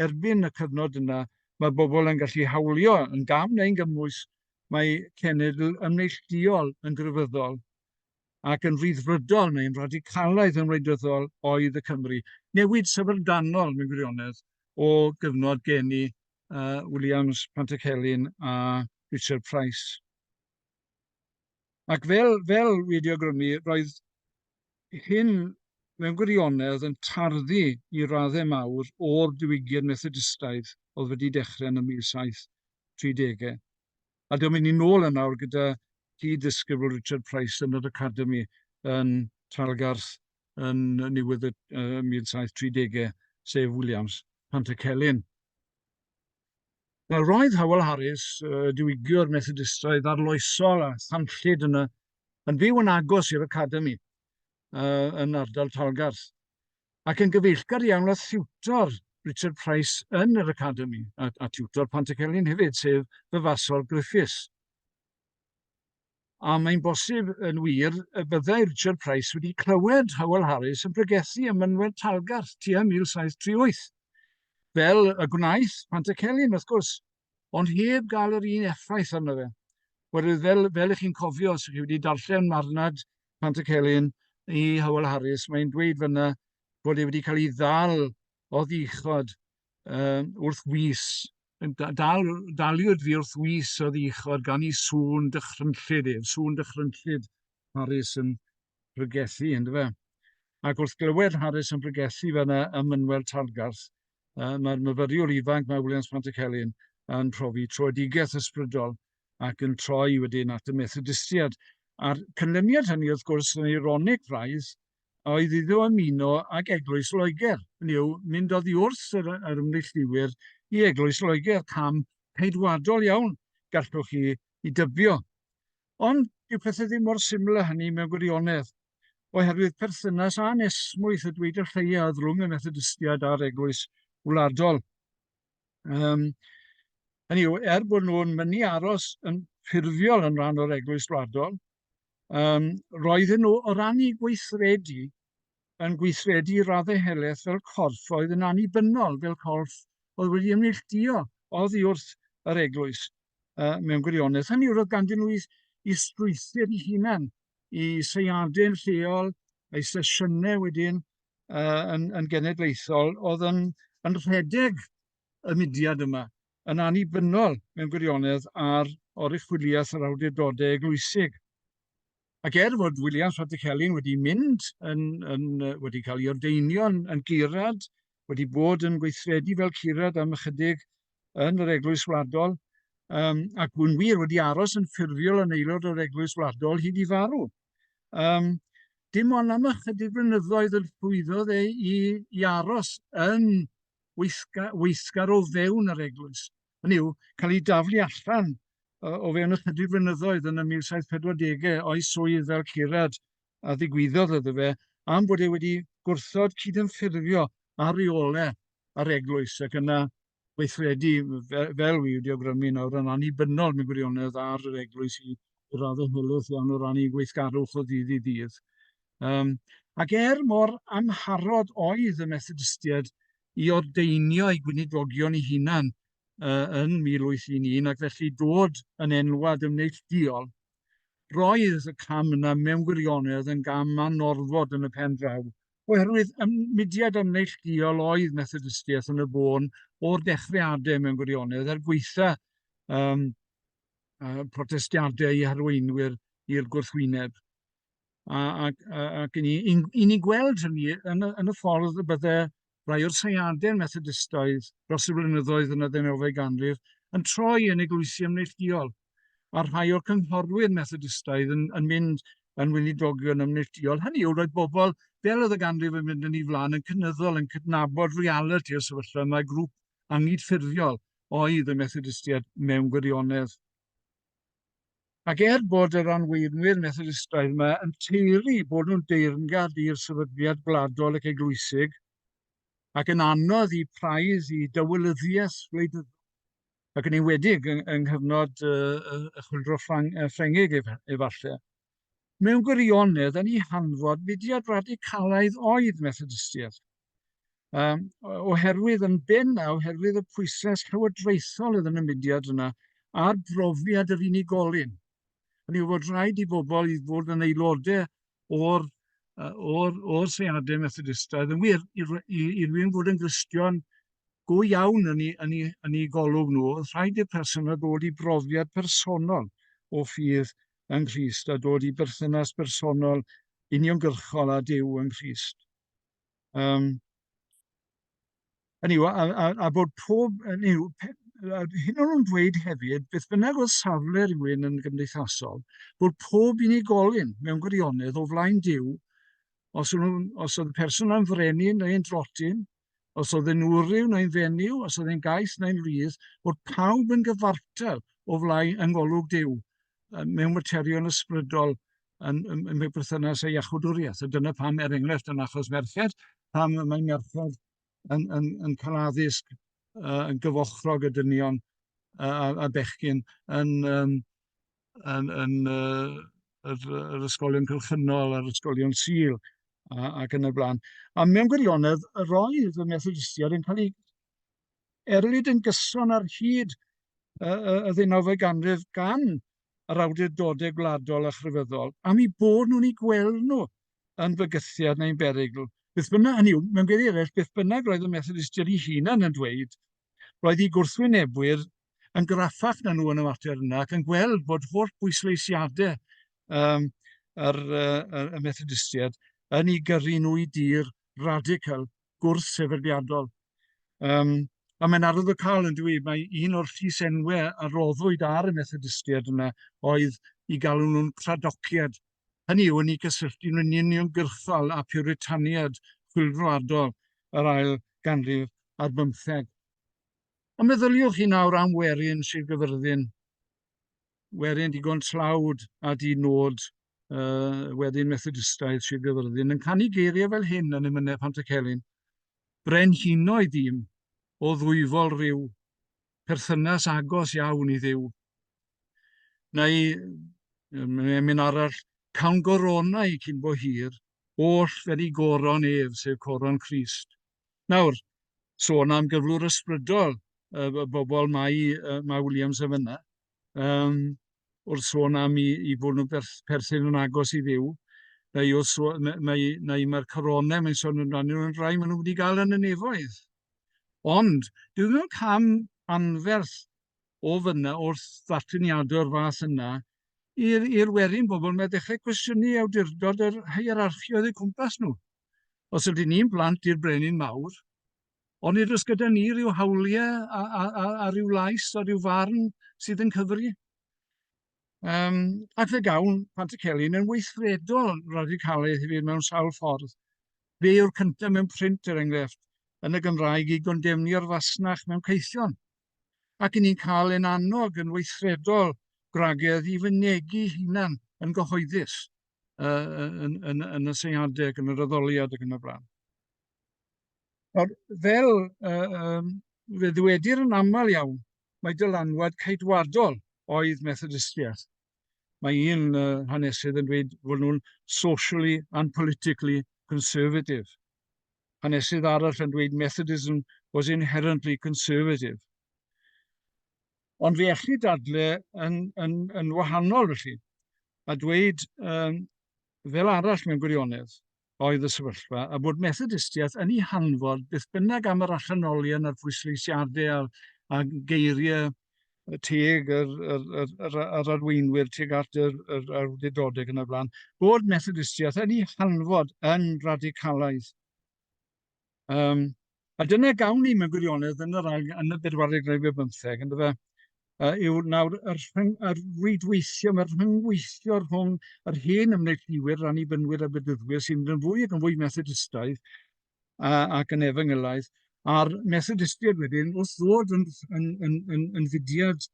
erbyn y cyfnod yna, mae bobl yn gallu hawlio yn gam neu'n gymwys, mae cenedl ymneillduol yn grefyddol ac yn frithfrydol neu'n radicalaidd yn wleidyddol oedd y Cymry. Newid syfrdanol, mewn gwirionedd, o gyfnod geni uh, Williams, Pantycelyn a Richard Price. Ac fel, fel wedi awgrymu, roedd hyn mewn gwirionedd yn tarddu i raddau mawr o'r diwygiad Methodistaidd oedd wedi dechrau yn y 1730au. A dyma ni'n nôl yn awr gyda cyd-ddisgybl Richard Price yn yr Academi yn Trallgarth yn niwedd y 1730au, sef Williams, Pantycelyn. Wel, roedd Hywel Harris, uh, diwygiwr Methodistaidd arloesol a thanllyd yn, y, yn byw yn agos i'r Academi uh, yn ardal Talgarth, ac yn gyfeillgar iawn â thiwtor Richard Price yn yr Academi, a, a tiwtor Pantycelyn hefyd, sef fy fasol Griffiths. A mae'n bosib, yn wir, y byddai Richard Price wedi clywed Howell Harris yn pregethu ym mynwent Talgarth tua 1738, fel y gwnaeth Pantycelyn, wrth gwrs, ond heb gael yr un effaith arno fe. Oherwydd, fel, fel ych chi'n cofio, os ych chi wedi darllen marnad Pantycelyn i Howell Harris, mae'n dweud fyna bod e wedi cael ei ddal oddi chibod yym wrth wis yn da- dal daliwyd fi wrth wis oddi chibod gan i sŵn dychrynllyd ef, sŵn dychrynllyd Harris yn pregethu yndyfe fe. Ac wrth glywed Harris yn pregethu fe yna ym Mynwel Talgarth, yy mae'r myfyriwr ifanc mae Williams Pantycelyn yn profi troedigaeth ysbrydol ac yn troi wedyn at y Methodistiaid. A'r cynlyniad hynny wrth gwrs yn eironig braidd oedd iddo ymuno ag Eglwys Loegr, hynny yw, mynd oddi wrth yr, yr ymneillduwyr i Eglwys Loegr, cam ceidwadol iawn, gallwch chi i dybio. Ond dyw pethau ddim mor syml â hynny mewn gwirionedd, oherwydd perthynas anesmwyth y dweud y lleiaf rhwng y Methodistiaid a'r Eglwys Wladol. Um, hynny yw, er bod nhw'n mynd i aros yn ffurfiol yn rhan o'r Eglwys Wladol, Yym, roedden nhw, o ran eu gweithredu, yn gweithredu i raddau helaeth fel corff oedd yn annibynnol, fel corff oedd wedi ymneilltuo oddi wrth yr eglwys uh, mewn gwirionedd. Hynny yw, roedd ganddyn nhw i, i strwythyr i hunan, i seiadau'n lleol, a'i sesiynau wedyn uh, yn, yn genedlaethol, oedd yn, yn rhedeg y mudiad yma. yn annibynnol mewn gwirionedd ar oruchwyliaeth yr awdurdodau eglwysig. Ac er fod Williams Patrick Helen wedi mynd, yn, yn, wedi cael ei ordeinio'n yn gurad, wedi bod yn gweithredu fel curad am ychydig yn yr Eglwys Wladol, um, ac bu'n wir wedi aros yn ffurfiol yn aelod o'r Eglwys Wladol hyd i farw. Um, dim ond am ychydig flynyddoedd yn llwyddodd ei i, i aros yn weithga- weithgar o fewn yr eglwys. Hynny yw, cael ei daflu allan uh, o fewn ychydig flynyddoedd yn y 1740au o'i swydd fel curad a ddigwyddodd iddo fe am bod e wedi gwrthod cydymffurfio a rheolau ar eglwys ac yna weithredu fel wy wedi awgrymu nawr yn annibynnol mewn gwirionedd ar yr eglwys i raddau hylus iawn o ran ei gweithgarwch o ddydd i ddydd. Yym, ac er mor amharod oedd y Methodistiaid i ordeinio eu gweinidogion eu hunan yy yn 1811 ac felly dod yn enwad yn neillduol, roedd y cam yna mewn gwirionedd yn gam anorfod yn y pen draw, oherwydd ym mudiad am neillduol oedd Methodistiaeth yn y bôn o'r dechrau ade mewn gwirionedd, er gweitha yym yy protestiadau ei harweinwyr i'r gwrthwyneb. A, ac, ac yn un, un ni'n gweld hynny yn y, yn y ffordd y bydde rhai o'r seiadau Methodistoedd dros y blynyddoedd yn y ddeunawfed ganrif yn troi yn eglwysi ymneillduol, a rhai o'r cynghorwyr Methodistoedd yn, yn mynd yn weinidogion ymneillduol. Hynny yw, roedd bobl, fel oedd y ganrif yn mynd yn ei flaen, yn cynyddol, yn cydnabod reality o sefyllfa yma, grŵp angydffurfiol oedd y Methodistiaid mewn gwirionedd. Ac er bod yr anweunwyr Methodistaidd yma yn teulu bod nhw'n deyrngad i'r sefydliad gwladol ac eglwysig, ac yn anodd i praidd i dywylyddiaeth wleidyddol, ac yn enwedig yng nghyfnod y Chwyldro Ffrangeg efallai. mewn gwirionedd yn ei hanfod fudiad radicalaidd oedd Methodistiaeth. Um, oherwydd yn ben a oherwydd y pwyslais llywodraethol oedd yn y mudiad yna a'r brofiad yr unigolyn. Hynny yw fod rhaid i bobl i fod yn aelodau o'r o'r, o'r seiadau Methodistaidd yn wir i, i, i rwy'n fod yn gristion go iawn yn ei, yn ei, yn ei golwg nhw, oedd rhaid i'r person yna ddod i brofiad personol o ffydd yng Nghrist a dod i berthynas bersonol uniongyrchol â Duw yng Nghrist. Um, yw, a, a, a bod pob, yw, hyn o'n nhw'n dweud hefyd, beth bynnag oedd safle rhywun yn gymdeithasol, bod pob unigolyn mewn gwirionedd o flaen Dyw, os, nhw, os oedd y person am frenin neu'n drotyn, os oedd yn wryw neu'n fenyw, os oedd yn gaeth neu'n rhydd, bod pawb yn gyfartal o flai yng ngolwg Duw mewn materion ysbrydol yn, yn, yn mewn perthynas â iachwdwriaeth. A dyna pam, er enghraifft, yn achos merched, pam mae merched yn, yn, yn cael addysg uh, yn gyfochrog y dynion uh, a, a bechgyn yn, um, yn, yn uh, yr, yr ysgolion cylchynol a'r ysgolion sil ac yn y blaen. A mewn gwirionedd, yr oedd y Methodistiaid yn cael ei erlid yn gyson ar hyd y, y, y ddeunawfed ganrif gan yr awdurdodau gwladol a chrefyddol, am ei bod nhw'n ei gweld nhw yn bygythiad neu'n berygl. Beth bynnag, hynny yw, mewn gwirionedd eraill, beth bynnag roedd y Methodistiaid ei hunan yn dweud, roedd ei gwrthwynebwyr yn graffach na nhw yn y mater yna ac yn gweld bod holl bwysleisiadau um, yr, uh, y Methodistiaid yn ei gyrru nhw i dir radical gwrth-sefydliadol. Um, a mae'n arwyddocaol yn dwi, mae un o'r llys enwe a roddwyd ar y Methodistiaid yna oedd i galw nhw'n cradociad. Hynny yw, yn ei gysylltu nhw'n union gyrchol a puritaniad chwilfroadol yr ail ganrif ar bymtheg. A meddyliwch chi nawr am werin Sir Gyfyrddin, werin digon tlawd a di-nod, uh, wedyn Methodistaidd Sir Gyfyrddin, yn canu geiriau fel hyn yn emynau Pantycelyn. Brenhinoedd dîm o ddwyfol rhyw, perthynas agos iawn i ddiw. Neu, emyn arall, cawn goronau cyn bo hir, oll fel i goron ef, sef coron Christ, Nawr, sôn am gyflwr ysbrydol, y bobl mae, mae Williams yn fyna, um, wrth sôn am i, i fod nhw'n berth, perthyn yn agos i ddiw, neu, wrth sôn, neu, neu mae'r coronau mae'n sôn amdano yn rhai maen nhw wedi gael yn y nefoedd. Ond, dwi mewn cam anferth o fyna wrth ddarlleniadau o'r fath yna i'r werin bobl, mae dechrau cwestiynu awdurdod yr hierarchioedd y cwmpas nhw. os ydyn ni'n blant i'r brenin mawr, ond nid oes gyda ni rhyw hawliau a, a, a, a rhyw lais a rhyw farn sydd yn cyfri. Um, ac fe gawn Pantycelyn yn weithredol radicalaidd hefyd mewn sawl ffordd. Fe yw'r cyntaf mewn print, er enghraifft, yn y Gymraeg i gondemnu ar fasnach mewn caethion. Ac yn ni'n cael ein annog yn weithredol gwragedd i fynegu hunan yn gyhoeddus. yn, yn, yn y seiadau ac yn yr addoliad ac yn y blaen. Nawr, fel uh, um, fe ddwedir yn aml iawn, mae dylanwad caetwadol oedd Methodistiaeth. Mae un uh, hanesydd yn dweud fod nhw'n socially and politically conservative. Hanesydd arall yn dweud Methodism was inherently conservative. Ond fe elli dadle yn, yn, yn wahanol felly, a dweud um, fel arall mewn gwirionedd oedd y sefyllfa, a bod Methodistiaeth yn ei hanfod beth bynnag am yr allanolion a'r pwysleisiadau a'r, a geiriau teg yr, yr, yr, yr, yr arweinwyr, teg at yr, yr awdurdodau yn y blaen, bod Methodistiaeth yn ei hanfod yn radicalaeth. Yym, a dyna gawn ni mewn gwirionedd yn yr ail... yn y bedwaredd ganrif ar bymtheg, yn dyfe, yy yw nawr y rhyng- y rhwydweithio, mae'r rhyngweithio rhwng yr hen ymneillduwyr, yr Annibynwyr a'r Bedyddwyr, sy'n mynd yn fwy ac yn fwy Methodistaidd a, ac yn efangylaidd, a'r Methodistiaid wedyn wrth ddod yn, yn, yn, yn, yn fudiad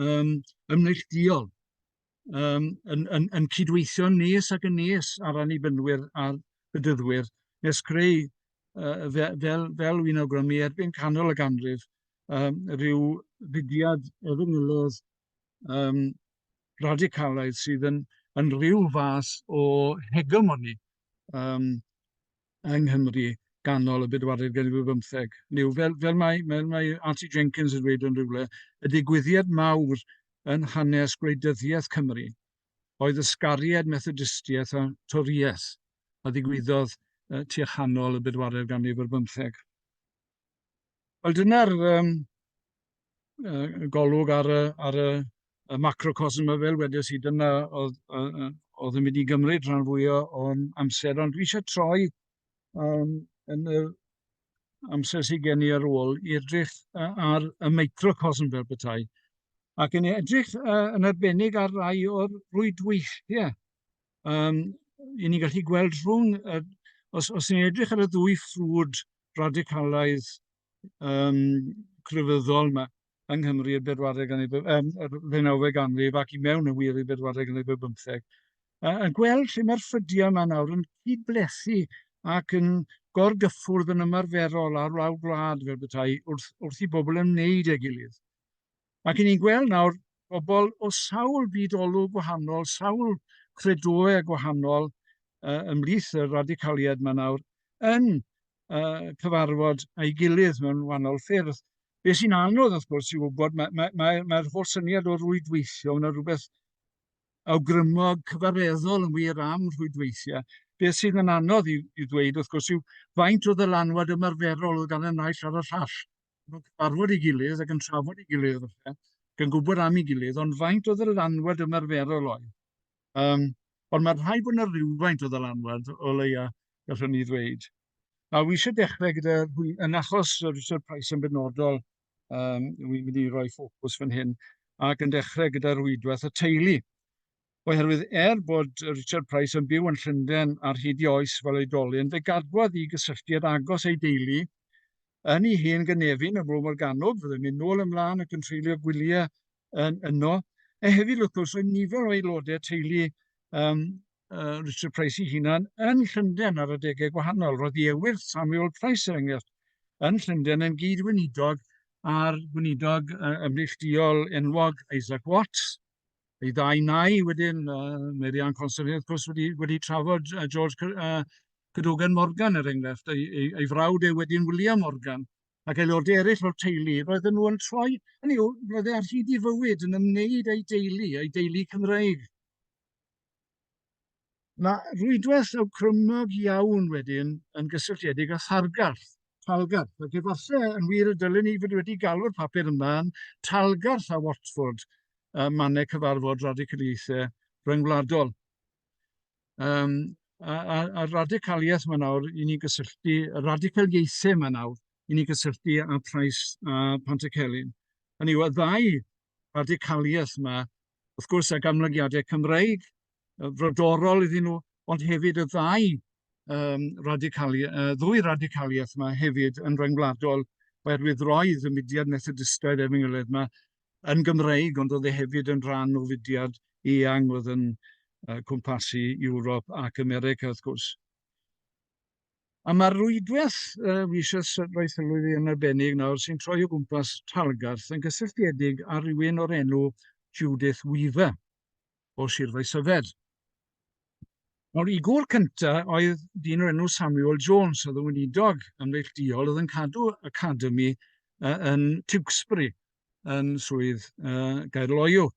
um, ymneillduol. um, yn, yn, yn cydweithio nes ac yn nes ar annibynnwyr a'r bydyddwyr nes creu uh, fel, fel, fel wy'n awgrymu erbyn canol y ganrif um, rhyw fudiad efengylodd um, radicalaidd sydd yn, yn rhyw fath o hegemoni um, yng Nghymru ganol y bedwaredd ganrif ar bymtheg. Niw, fel, fel mae, mae, mae Auntie Jenkins yn dweud yn rhywle, y digwyddiad mawr yn hanes gwleidyddiaeth Cymru oedd ysgariad Methodistiaeth a Toriaeth a ddigwyddodd uh, tua chanol y bedwaredd ganrif ar bymtheg. Wel, dyna'r um, golwg ar y, ar y, y macrocosm y fel wedes i, dyna oedd, oedd yn mynd i gymryd rhan fwy o'n amser, ond dwi eisiau troi um, yn y amser sydd gen i ar ôl i edrych ar y microcosm fel bethau, ac yn edrych uh, yn arbennig ar rai o'r rwydweithiau. Um, I ni'n gallu gweld rhwng, uh, os, os ni'n edrych ar y ddwy ffrwd radicalaidd um, crefyddol yma yng Nghymru i'r bedwaredd ganrif, um, yr ddeunawfed ganrif ac i mewn yn wir i'r bedwaredd ganrif y bymtheg. A, a gweld lle mae'r ffrydiau yma nawr yn cyd-blethu ac yn gorgyffwrdd yn ymarferol ar lawr gwlad fel bethau wrth, wrth i bobl ymwneud â'i gilydd. Mae gen i'n gweld nawr bobl o sawl byd-olwg gwahanol, sawl credoau gwahanol uh, ymlith y radicaliad mae nawr yn uh, cyfarfod a'i gilydd mewn wahanol ffyrdd. Be sy'n anodd, wrth gwrs, i wybod, mae'r mae, mae, mae holl syniad o rwydweithio, mae'n rhywbeth awgrymog cyfareddol yn wir am rhwydweithiau. Be sydd yn anodd i, i ddweud, wrth gwrs, yw faint o ddylanwad ymarferol oedd gan y naill ar y llall. nhw'n cyfarfod ei gilydd ac yn trafod ei gilydd falle, gan gwybod am ei gilydd, ond faint o ddylanwad ymarferol oedd? Um, ond mae'r rhai bod yna rhywfaint o ddylanwad o leia, gallwn ni ddweud. A wy eisiau dechrau gyda, yn achos Richard Price yn benodol, um, wy'n mynd i roi ffocws fan hyn, ac yn dechrau gyda rhwydwaith y teulu. Oherwydd, er bod Richard Price yn byw yn Llundain ar hyd i oes fel oedolyn, fe gadwodd i gysylltiad agos ei deulu yn ei hen gynefin ym Mro Morgannwg, fyddai'n mynd nôl ymlaen ac yn treulio gwyliau yn yno. A hefyd, wrth gwrs, oedd nifer o aelodau teulu um, uh, Richard Price ei hunan yn Llundain ar adegau gwahanol. Roedd i ewyr Samuel Price, er enghraifft, yn Llundain yn gyd-weinidog a'r gweinidog uh, ymneillduol enwog Isaac Watts, y ddau nai wedyn, uh, Merian Constantine, wrth gwrs, wedi, wedi trafod uh, George uh, Cadogan Morgan, er enghraifft, ei, ei, ei frawd ei wedyn William Morgan, ac aelodau eraill o'r teulu, roedden nhw yn troi, hynny yw, roedd e ar hyd i fywyd yn ymwneud â'i deulu, ei deulu Cymreig. Mae rhwydwaith awgrymog iawn wedyn yn gysylltiedig â thargarth, talgarth, ac efallai yn wir y dylwn i fod wedi galw'r papur yma yn Talgarth a Watford, uh, mannau cyfarfod radicaliaethau rhyngwladol. Um, a, a, a radicaliaeth mae nawr i ni gysylltu, radicaliaethau mae nawr i ni gysylltu â Price a Pantycelyn. Hynny yw, y ddau radicaliaeth yma, wrth gwrs ag amlygiadau Cymreig uh, frodorol iddyn nhw, ond hefyd y ddau um, radicali, uh, ddwy radicaliaeth yma hefyd yn rhyngwladol oherwydd roedd y mudiad Methodistaidd efo'n gilydd yma yn Gymreig, ond oedd e hefyd yn rhan o fudiad eang oedd yn uh, cwmpasu Ewrop ac America, wrth gwrs. A mae'r rwydwaith yy wi isio s- roi sylw iddi yn arbennig nawr sy'n troi o gwmpas Talgarth yn gysylltiedig â rywun o'r enw Judith Weaver o Sir Faesyfed. Nawr, i gŵr cynta oedd dyn o'r enw Samuel Jones, oedd yn weinidog ymneillduol, oedd yn cadw academi uh, yn Tewkesbury, yn swydd uh, Gaerloyw.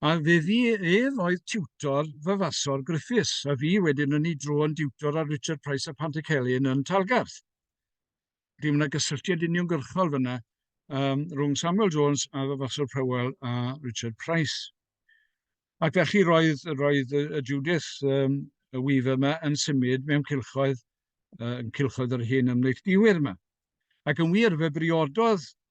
A fi ef oedd tiwtor fyfasor Griffiths, a fi wedyn yn ei dro yn diwtor ar Richard Price a Pant y Celyn yn Talgarth. Dwi'n mynd â gysylltiad uniongyrchol fyna um, rhwng Samuel Jones a fyfasor Powell a Richard Price. Ac felly roedd, roedd y Judith um, y Weaver yma yn symud mewn cilchoedd, uh, yn cilchoedd yr hen ymneilldiwyr yma. Ac yn wir, fe briododd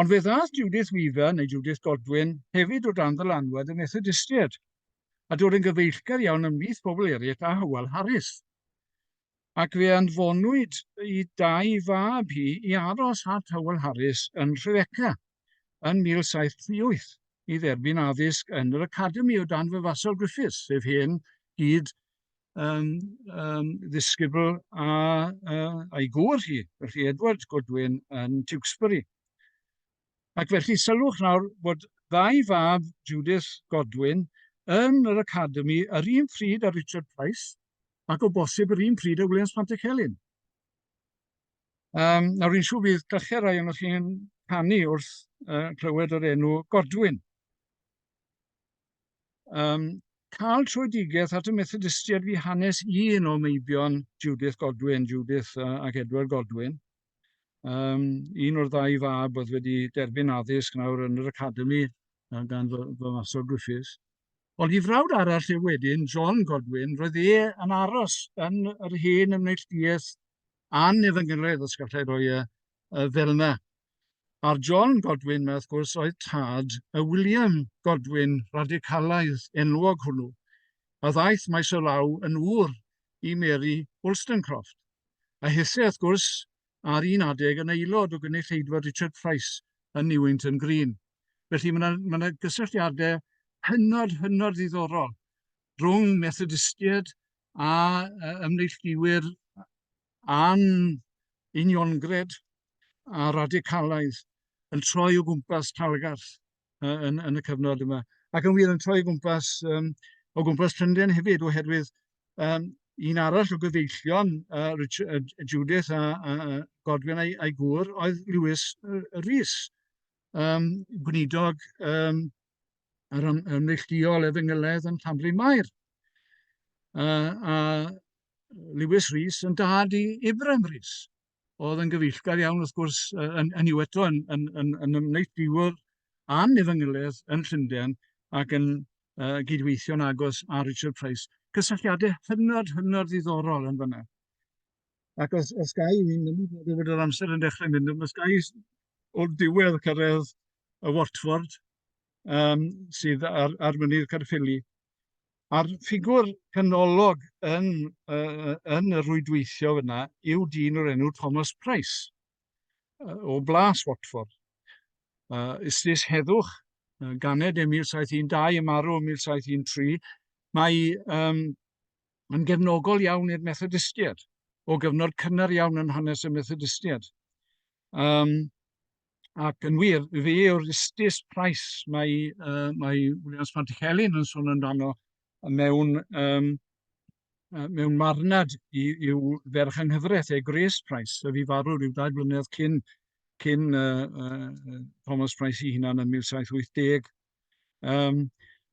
Ond fe ddaeth Judith Weaver, neu Judith Godwin, hefyd o dan ddylanwad y Methodistiaid, a dod yn gyfeillgar iawn ymhlith pobl eraill a Hywel Harris. Ac fe anfonwyd i dau fab hi i aros at Hywel Harris yn Rhyfeca yn 1738 i dderbyn addysg yn yr Academi o dan Fyfasol Griffiths, sef hen gyd yym yym ddisgybl a yy a'i gŵr hi, felly Edward Godwin yn Tewkesbury. Ac felly sylwch nawr bod ddau fab Judith Godwin yn yr Academi yr un pryd â Richard Price ac o bosib yr un pryd â Williams Pantycelyn. Um, nawr, rwy'n siŵr bydd gallu rai o'n chi'n canu wrth uh, clywed yr enw Godwin. Yym, cael tröedigaeth at y Methodistiaid fu hanes un o meibion Judith Godwin, Judith a ac Edward Godwin. Yym, un o'r ddau fab oedd wedi derbyn addysg nawr yn yr academi yy gan fy fy maswr Griffiths. Ond i frawd arall yw wedyn, John Godwin, roedd e yn aros yn yr hen neillduaeth annebyngyredd, os gallai roi y y fel 'na, A'r John Godwin 'ma, wrth gwrs, oedd tad y William Godwin radicalaidd enwog hwnnw, a ddaeth maes o law yn ŵr i Mary Wollstonecroft, a hithau, wrth gwrs, ar un adeg yn aelod o gynulleidfa Richard Price yn Newington Green. Felly mae yna, mae yna gysylltiadau hynod, hynod ddiddorol rhwng Methodistiaid a ymneilltuwyr a'n uniongred a radicalaidd yn troi o gwmpas Talgarth uh, yn, yn y cyfnod yma. Ac yn wir yn troi o gwmpas, um, o gwmpas Llundain hefyd oherwydd um, un arall o gyfeillion uh, Richard, uh, Judith a, a, a Godwin a'i, a'i gŵr oedd Lewis uh, Rhys, um, gweinidog um, yr ym, ym neillduol efengyledd yn Llanbryn Mair. Uh, a Lewis Rhys yn dad i Ibrahim Rhys, oedd yn gyfeillgar iawn wrth gwrs yn, yn yw eto yn, yn, yn, yn ymwneud a'n efengyledd yn Llundain ac yn uh, gydweithio'n agos â Richard Price. Cysylltiadau hynod, hynod ddiddorol yn fyna. Ac os, os ga i, fi'n mynd i fod yr amser yn dechrau mynd, os ga i o'r diwedd cyrraedd y Watford um, sydd ar, ar mynydd Caerffili. A'r ffigwr canolog yn, uh, yn y rwydweithio yna yw dyn o'r enw Thomas Price uh, o Blas Watford. Uh, Ystus heddwch, uh, ganed e 1712 y marw 1713, mae um, yn gefnogol iawn i'r Methodistiaid, o gyfnod cynnar iawn yn hanes y Methodistiaid. Um, ac yn wir, fe yw'r istis praes mae, uh, mae Williams Pantichelin yn sôn amdano mewn, um, mewn marnad i'w ferch yng nghyfraith, ei Grace Price, a fi farw rhyw dau blynedd cyn, cyn uh, uh, Thomas Price i hunan yn 1780, Yym,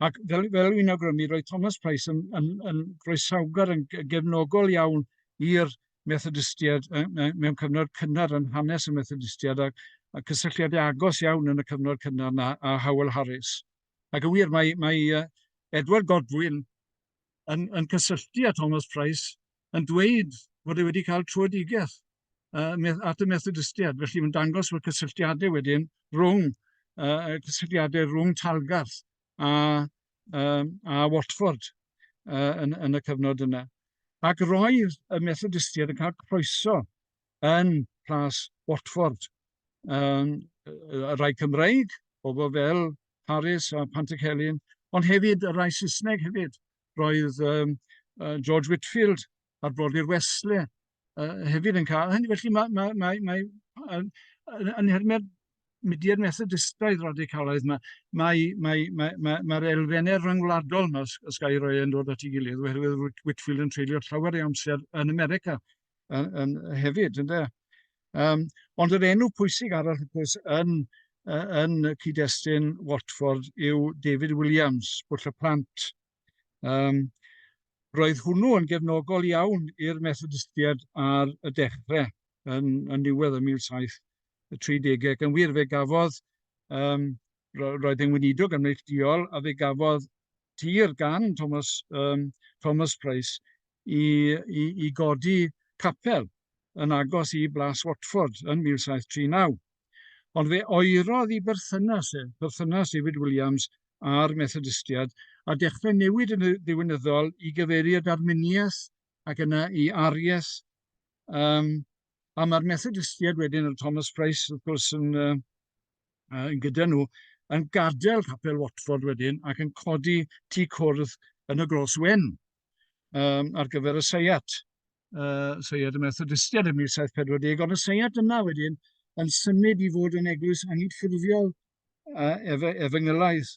ac fel fel o'n i'n awgrymu, roedd Thomas Price yn yn yn groesawgar, yn ge- gefnogol iawn i'r Methodistiaid yy yy mewn cyfnod cynnar yn hanes y Methodistiaid, ac a cysylltiadau agos iawn yn y cyfnod cynnar 'na â Howel Harris. Ac yn wir, mae mae yy Edward Godwin yn yn cysylltu â Thomas Price, yn dweud fod e wedi cael trwedigaeth. uh, at y Methodistiaid. Felly mae'n dangos fod cysylltiadau wedyn rhwng, uh, cysylltiadau rhwng Talgarth a, um, a Watford uh, yn, yn y cyfnod yna. Ac roedd y Methodistiaid yn cael croeso yn plas Watford. Um, y rai Cymreig, bobl fel Harris a Pantic Helin, ond hefyd y rai Saesneg hefyd. Roedd um, uh, George Whitfield a'r Brodyr Wesley uh, hefyd yn cael hynny. Felly mae, mae, mae, mae yn, yn hermau'r mudiad methodistaidd radicalaidd, mae, mae, mae, mae, mae, mae'r elfennau rhyngwladol yma, os gael ei roi yn dod at ei gilydd, oherwydd Whitfield yn treulio llawer ei amser yn America yn, yn, hefyd, ynddo. Um, ond yr enw pwysig arall, wrth gwrs, yn, yn cyd-destun Watford yw David Williams, bwll y plant Um, roedd hwnnw yn gefnogol iawn i'r Methodistiaid ar y dechrau yn, yn niwedd y 1730 ac yn wir fe gafodd um, roedd e'n weinidog yn neillduol a fe gafodd tir gan Thomas, um, Thomas Price i, i, i godi capel yn agos i Blas Watford yn 1739. Ond fe oerodd i berthynas e, perthynas David Williams a'r Methodistiaid, a dechrau newid yn ddiwinyddol i gyfeirio at Arminiaeth ac yna i Aries. Um, a mae'r Methodistiaid wedyn, yn Thomas Price wrth gwrs yn, uh, yn gyda nhw, yn gadael capel Watford wedyn ac yn codi tu cwrdd yn y Gros Wen. um, ar gyfer y seiat, uh, seiat y Methodistiad ym 1740, ond y seiat yna wedyn yn symud i fod yn eglwys angydffurfiol uh, ef efengylaidd,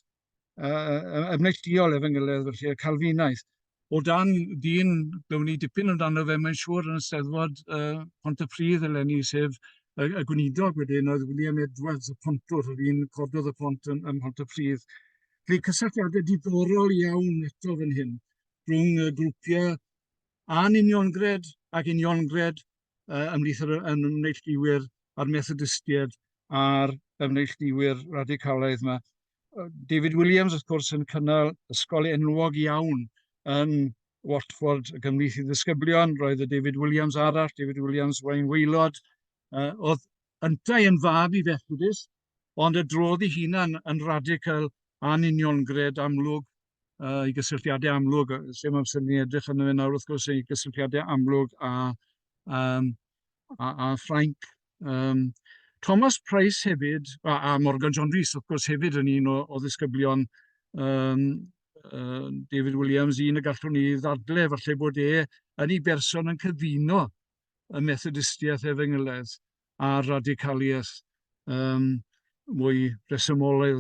uh, efnelldiol efengylaidd, felly y Calfinaidd. O dan dyn, byddwn ni dipyn amdano fe, mae'n siŵr yn y steddfod uh, Pont y Pridd eleni, sef y, y gweinidog wedyn oedd William Edwards, y pontwr, yr un cododd y pont yn, yn Pont y Pridd. Felly cysylltiadau diddorol iawn eto fan hyn rhwng y grwpiau anuniongred ac uniongred uh, ymhlith yr ymneillduwyr a'r Methodistiaid a'r ymneillduwyr radicalaidd yma. David Williams, wrth gwrs, yn cynnal ysgol enwog iawn yn Watford y gymrith i ddisgyblion. Roedd y David Williams arall, David Williams Wayne Waelod, uh, oedd yntau yn fab i Fethodist, ond y drodd ei hunan yn radical a'n uniongred amlwg, uh, ei gysylltiadau amlwg, lle mae'n sy'n ni edrych yn fe nawr wrth gwrs ei gysylltiadau amlwg a, um, a, a Ffrainc. Um, Thomas Price hefyd, a, a Morgan John Rhys wrth gwrs hefyd yn un o, o ddisgyblion um, uh, David Williams, un y gallwn ni ddadle, falle bod e yn ei berson yn cyfuno y Methodistiaeth efengylaeth a'r radicaliaeth um, mwy resymol i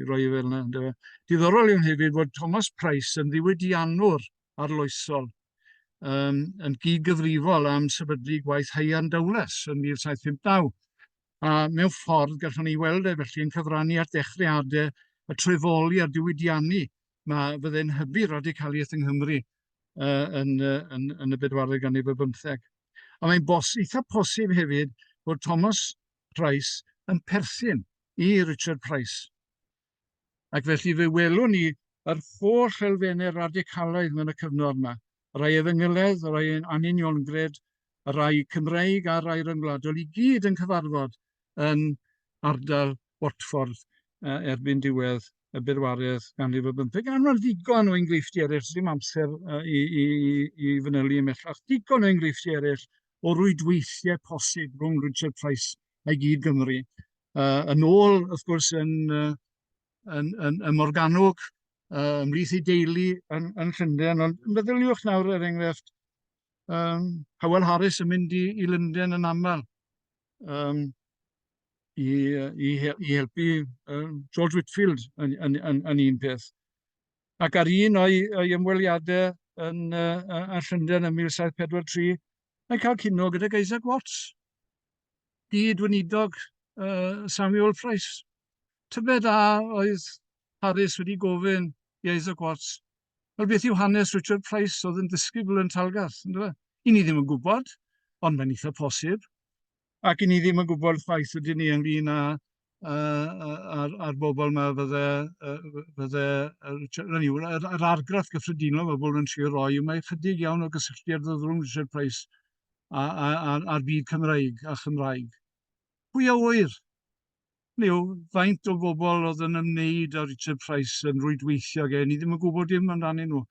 roi fel yna. Dweud. Diddorol yw hefyd fod Thomas Price yn ddiwydiannwr arloesol um, yn gyd-gyfrifol am sefydlu gwaith Haian Dowles yn 1759. A mewn ffordd, gallwn ni weld e felly yn cyfrannu at ddechreadau y trefoli a'r diwydiannu mae fyddai'n hybu radicaliaeth yng Nghymru uh, yn, uh, yn, yn y bedwaredd ganrif ar bymtheg. A mae'n bos, eitha posib hefyd bod Thomas Price yn perthyn i Richard Price. Ac felly fe welwn ni yr holl elfennau radicalaidd mewn y cyfnod yma, y rhai Efengylaidd, y rhai Anuniongred, y rhai Cymreig a'r rhai Ryngwladol i gyd yn cyfarfod yn ardal Watford erbyn diwedd y bedwaredd ganrif ar bymtheg. A mae'n ddigon o enghreifftiau eraill, ddim amser i, i, i fanylu ymellach, digon o enghreifftiau eraill o rwydweithiau posib rhwng Richard Price a'i gyd Gymru. Uh, yn ôl, wrth gwrs, yn uh, yn, yn, yn Morganwg, uh, ymlith i deulu yn, yn Llundain, ond meddyliwch nawr er enghraifft, um, Howell Harris yn mynd i, i Lundain yn aml um, i, i, i helpu um, George Whitfield yn, yn, yn, yn un peth. Ac ar un o'i, o'i ymweliadau yn, uh, yn Llundain yn 1743, mae'n cael cynno gyda Isaac Watts, gyd-weinidog uh, Samuel Price. Tybed a oedd Harris wedi gofyn i Isaac Watts, wel beth yw hanes Richard Price oedd yn disgybl yn Talgarth, ynddo fe? I ni ddim yn gwybod, ond mae'n eitha posib. Ac i ni ddim yn gwybod chwaith ydyn ni ynglyn â a'r, ar bobl yma fydde, fydde Richard, hynny yw, yr, yr argraff gyffredinol mae bobl yn trio roi yw mae chydig iawn o gysylltiad rhwng Richard Price a'r byd Cymraeg a Chymraeg. Pwy a wyr? Leo, faint o bobl oedd yn ymwneud â Richard Price yn rwydweithio gen i ddim yn gwybod dim amdanyn nhw.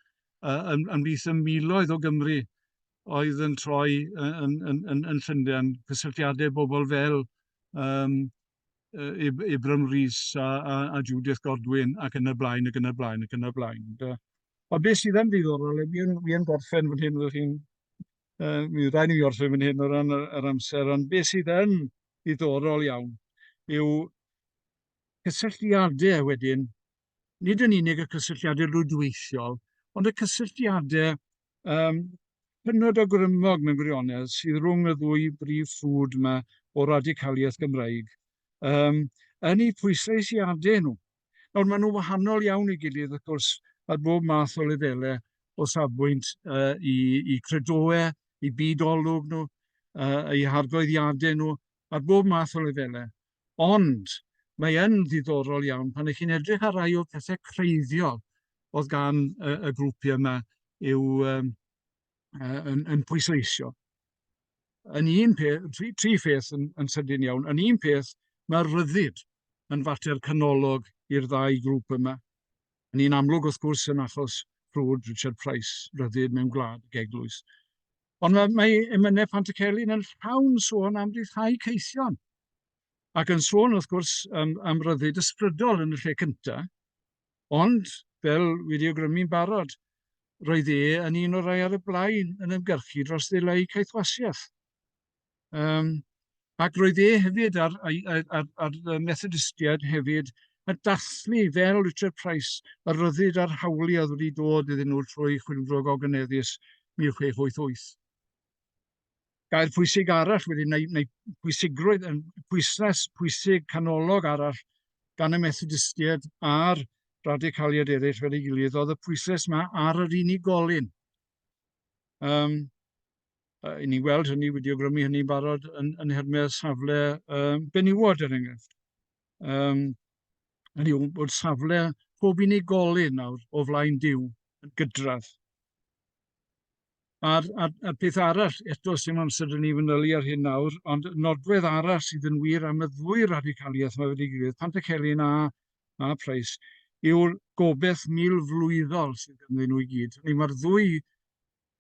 Uh, yn, yn beth y miloedd o Gymru oedd yn troi yn, yn, yn, yn Llundain, cysylltiadau bobl fel um, Ibram Rhys a, a, a Judith Godwin ac yn y blaen ac yn y blaen ac yn y blaen. Da. A beth sydd yn ddiddorol, fi yn, fi yn gorffen fan hyn, ydych chi'n, uh, mi rhaid i mi orffen fan hyn o ran yr, yr amser, ond beth sydd yn ddiddorol iawn yw cysylltiadau wedyn, nid yn unig y cysylltiadau rwydweithiol, ond y cysylltiadau um, hynod o grymog mewn gwirionedd sydd rhwng y ddwy brif ffrwd yma o radicaliaeth Gymraeg, um, yn eu pwysleisiadau nhw. Nawr, maen nhw'n wahanol iawn i gilydd, wrth gwrs, ar bob math o lefelau o safbwynt uh, i, i credoau, i byd olwg nhw, uh, i hargoeddiadau nhw, ar bob math o lefelau. Ond mae yn ddiddorol iawn pan ych chi'n edrych ar rai o'r pethau creiddiol oedd gan y, y grwpiau yma yw um, uh, yn, yn pwysleisio. yn un peth, tri, tri pheth yn, yn sydyn iawn. Yn un peth, mae'r ryddid yn fater canolog i'r ddau grŵp yma. Yn un amlwg, wrth gwrs, yn achos Rhwyd Richard Price, ryddid mewn gwlad ag eglwys. Ond mae, mae emynau Pantycelyn yn llawn sôn am rhyddhau ceithion. Ac yn sôn, wrth gwrs, am, am ryddid ysbrydol yn y lle cyntaf, Ond, fel wedi awgrymu'n barod, roedd e yn un o'r rhai ar y blaen yn ymgyrchu dros ddeleu caethwasiaeth. Um, ac roedd e hefyd a'r, a'r, a'r, a'r Methodistiaid hefyd yn dathlu fel Richard Price y ryddid a'r hawli oedd wedi dod iddyn nhw trwy chwilfro gogyneddus 1688. gair pwysig arall wedyn, neu, neu pwysigrwydd, yn pwysles pwysig canolog arall gan y Methodistiaid a'r radicaliad eraill fel ei gilydd, oedd y pwysles yma ar yr unigolyn. Um, uh, I ni weld hynny wedi ogrymu hynny'n barod yn, yn hermau'r safle um, benywod er enghraifft. Um, hynny yw bod safle pob unigolyn nawr o flaen diw yn gydradd. A'r, a'r, a'r peth arall, eto sy'n amser yn ei fanylu ar hyn nawr, ond nodwedd arall sydd yn wir am y ddwy radicaliaeth mae wedi gilydd, Pantycelyn a, a Price, yw'r gobeith mil flwyddol sydd ganddyn nhw i gyd. Hynny mae'r ddwy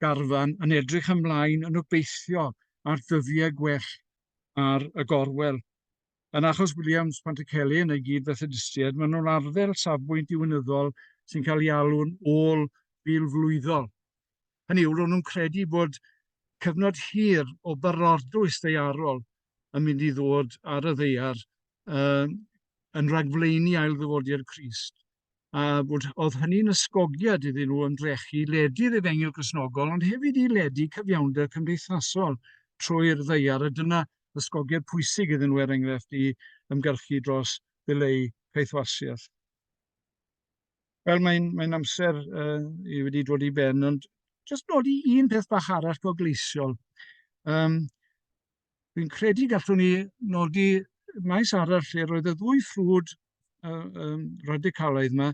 garfan yn edrych ymlaen yn obeithio ar dyddiau gwell ar y gorwel. Yn achos Williams, Pantycelli yn ei gyd-fethodistiaid, maen nhw'n arddel safbwynt diwinyddol sy'n cael ei alw'n ôl filflwyddol. Hynny yw, ro'n nhw'n credu bod cyfnod hir o barodrwydd ddaearol yn mynd i ddod ar y ddaear uh, yn rhagflaenu ail ddyfodiad Crist. a bod, oedd hynny'n ysgogiad iddyn nhw ymdrechu ledu'r efengyl grisnogol, ond hefyd i ledu cyfiawnder cymdeithasol trwy'r ddeiar, a dyna ysgogiad pwysig iddyn nhw, er enghraifft, i ymgyrchu dros ddileu caethwasiaeth. Wel, mae'n mae amser uh, i wedi dod i ben, ond jyst nodi un peth bach arall gogleisiol. Um, Dwi'n credu gallwn ni nodi maes arall lle roedd y ddwy ffrwd uh, um, radicalaidd yma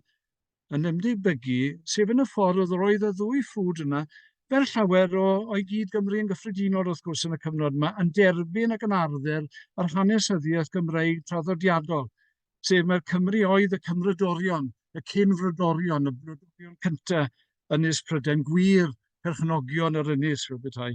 yn ymddibygu, sef yn y ffordd oedd roedd y ddwy ffrwd yna, fel llawer o, o'i gyd Gymru yn gyffredinol wrth gwrs yn y cyfnod yma, yn derbyn ac yn arddel yr hanesyddiaeth Gymreig traddodiadol, sef mae'r Cymru oedd y Cymrydorion, y cynfrydorion, y brydorion cyntaf, Ynys Prydain Gwir, perchnogion yr ynys fel bethau.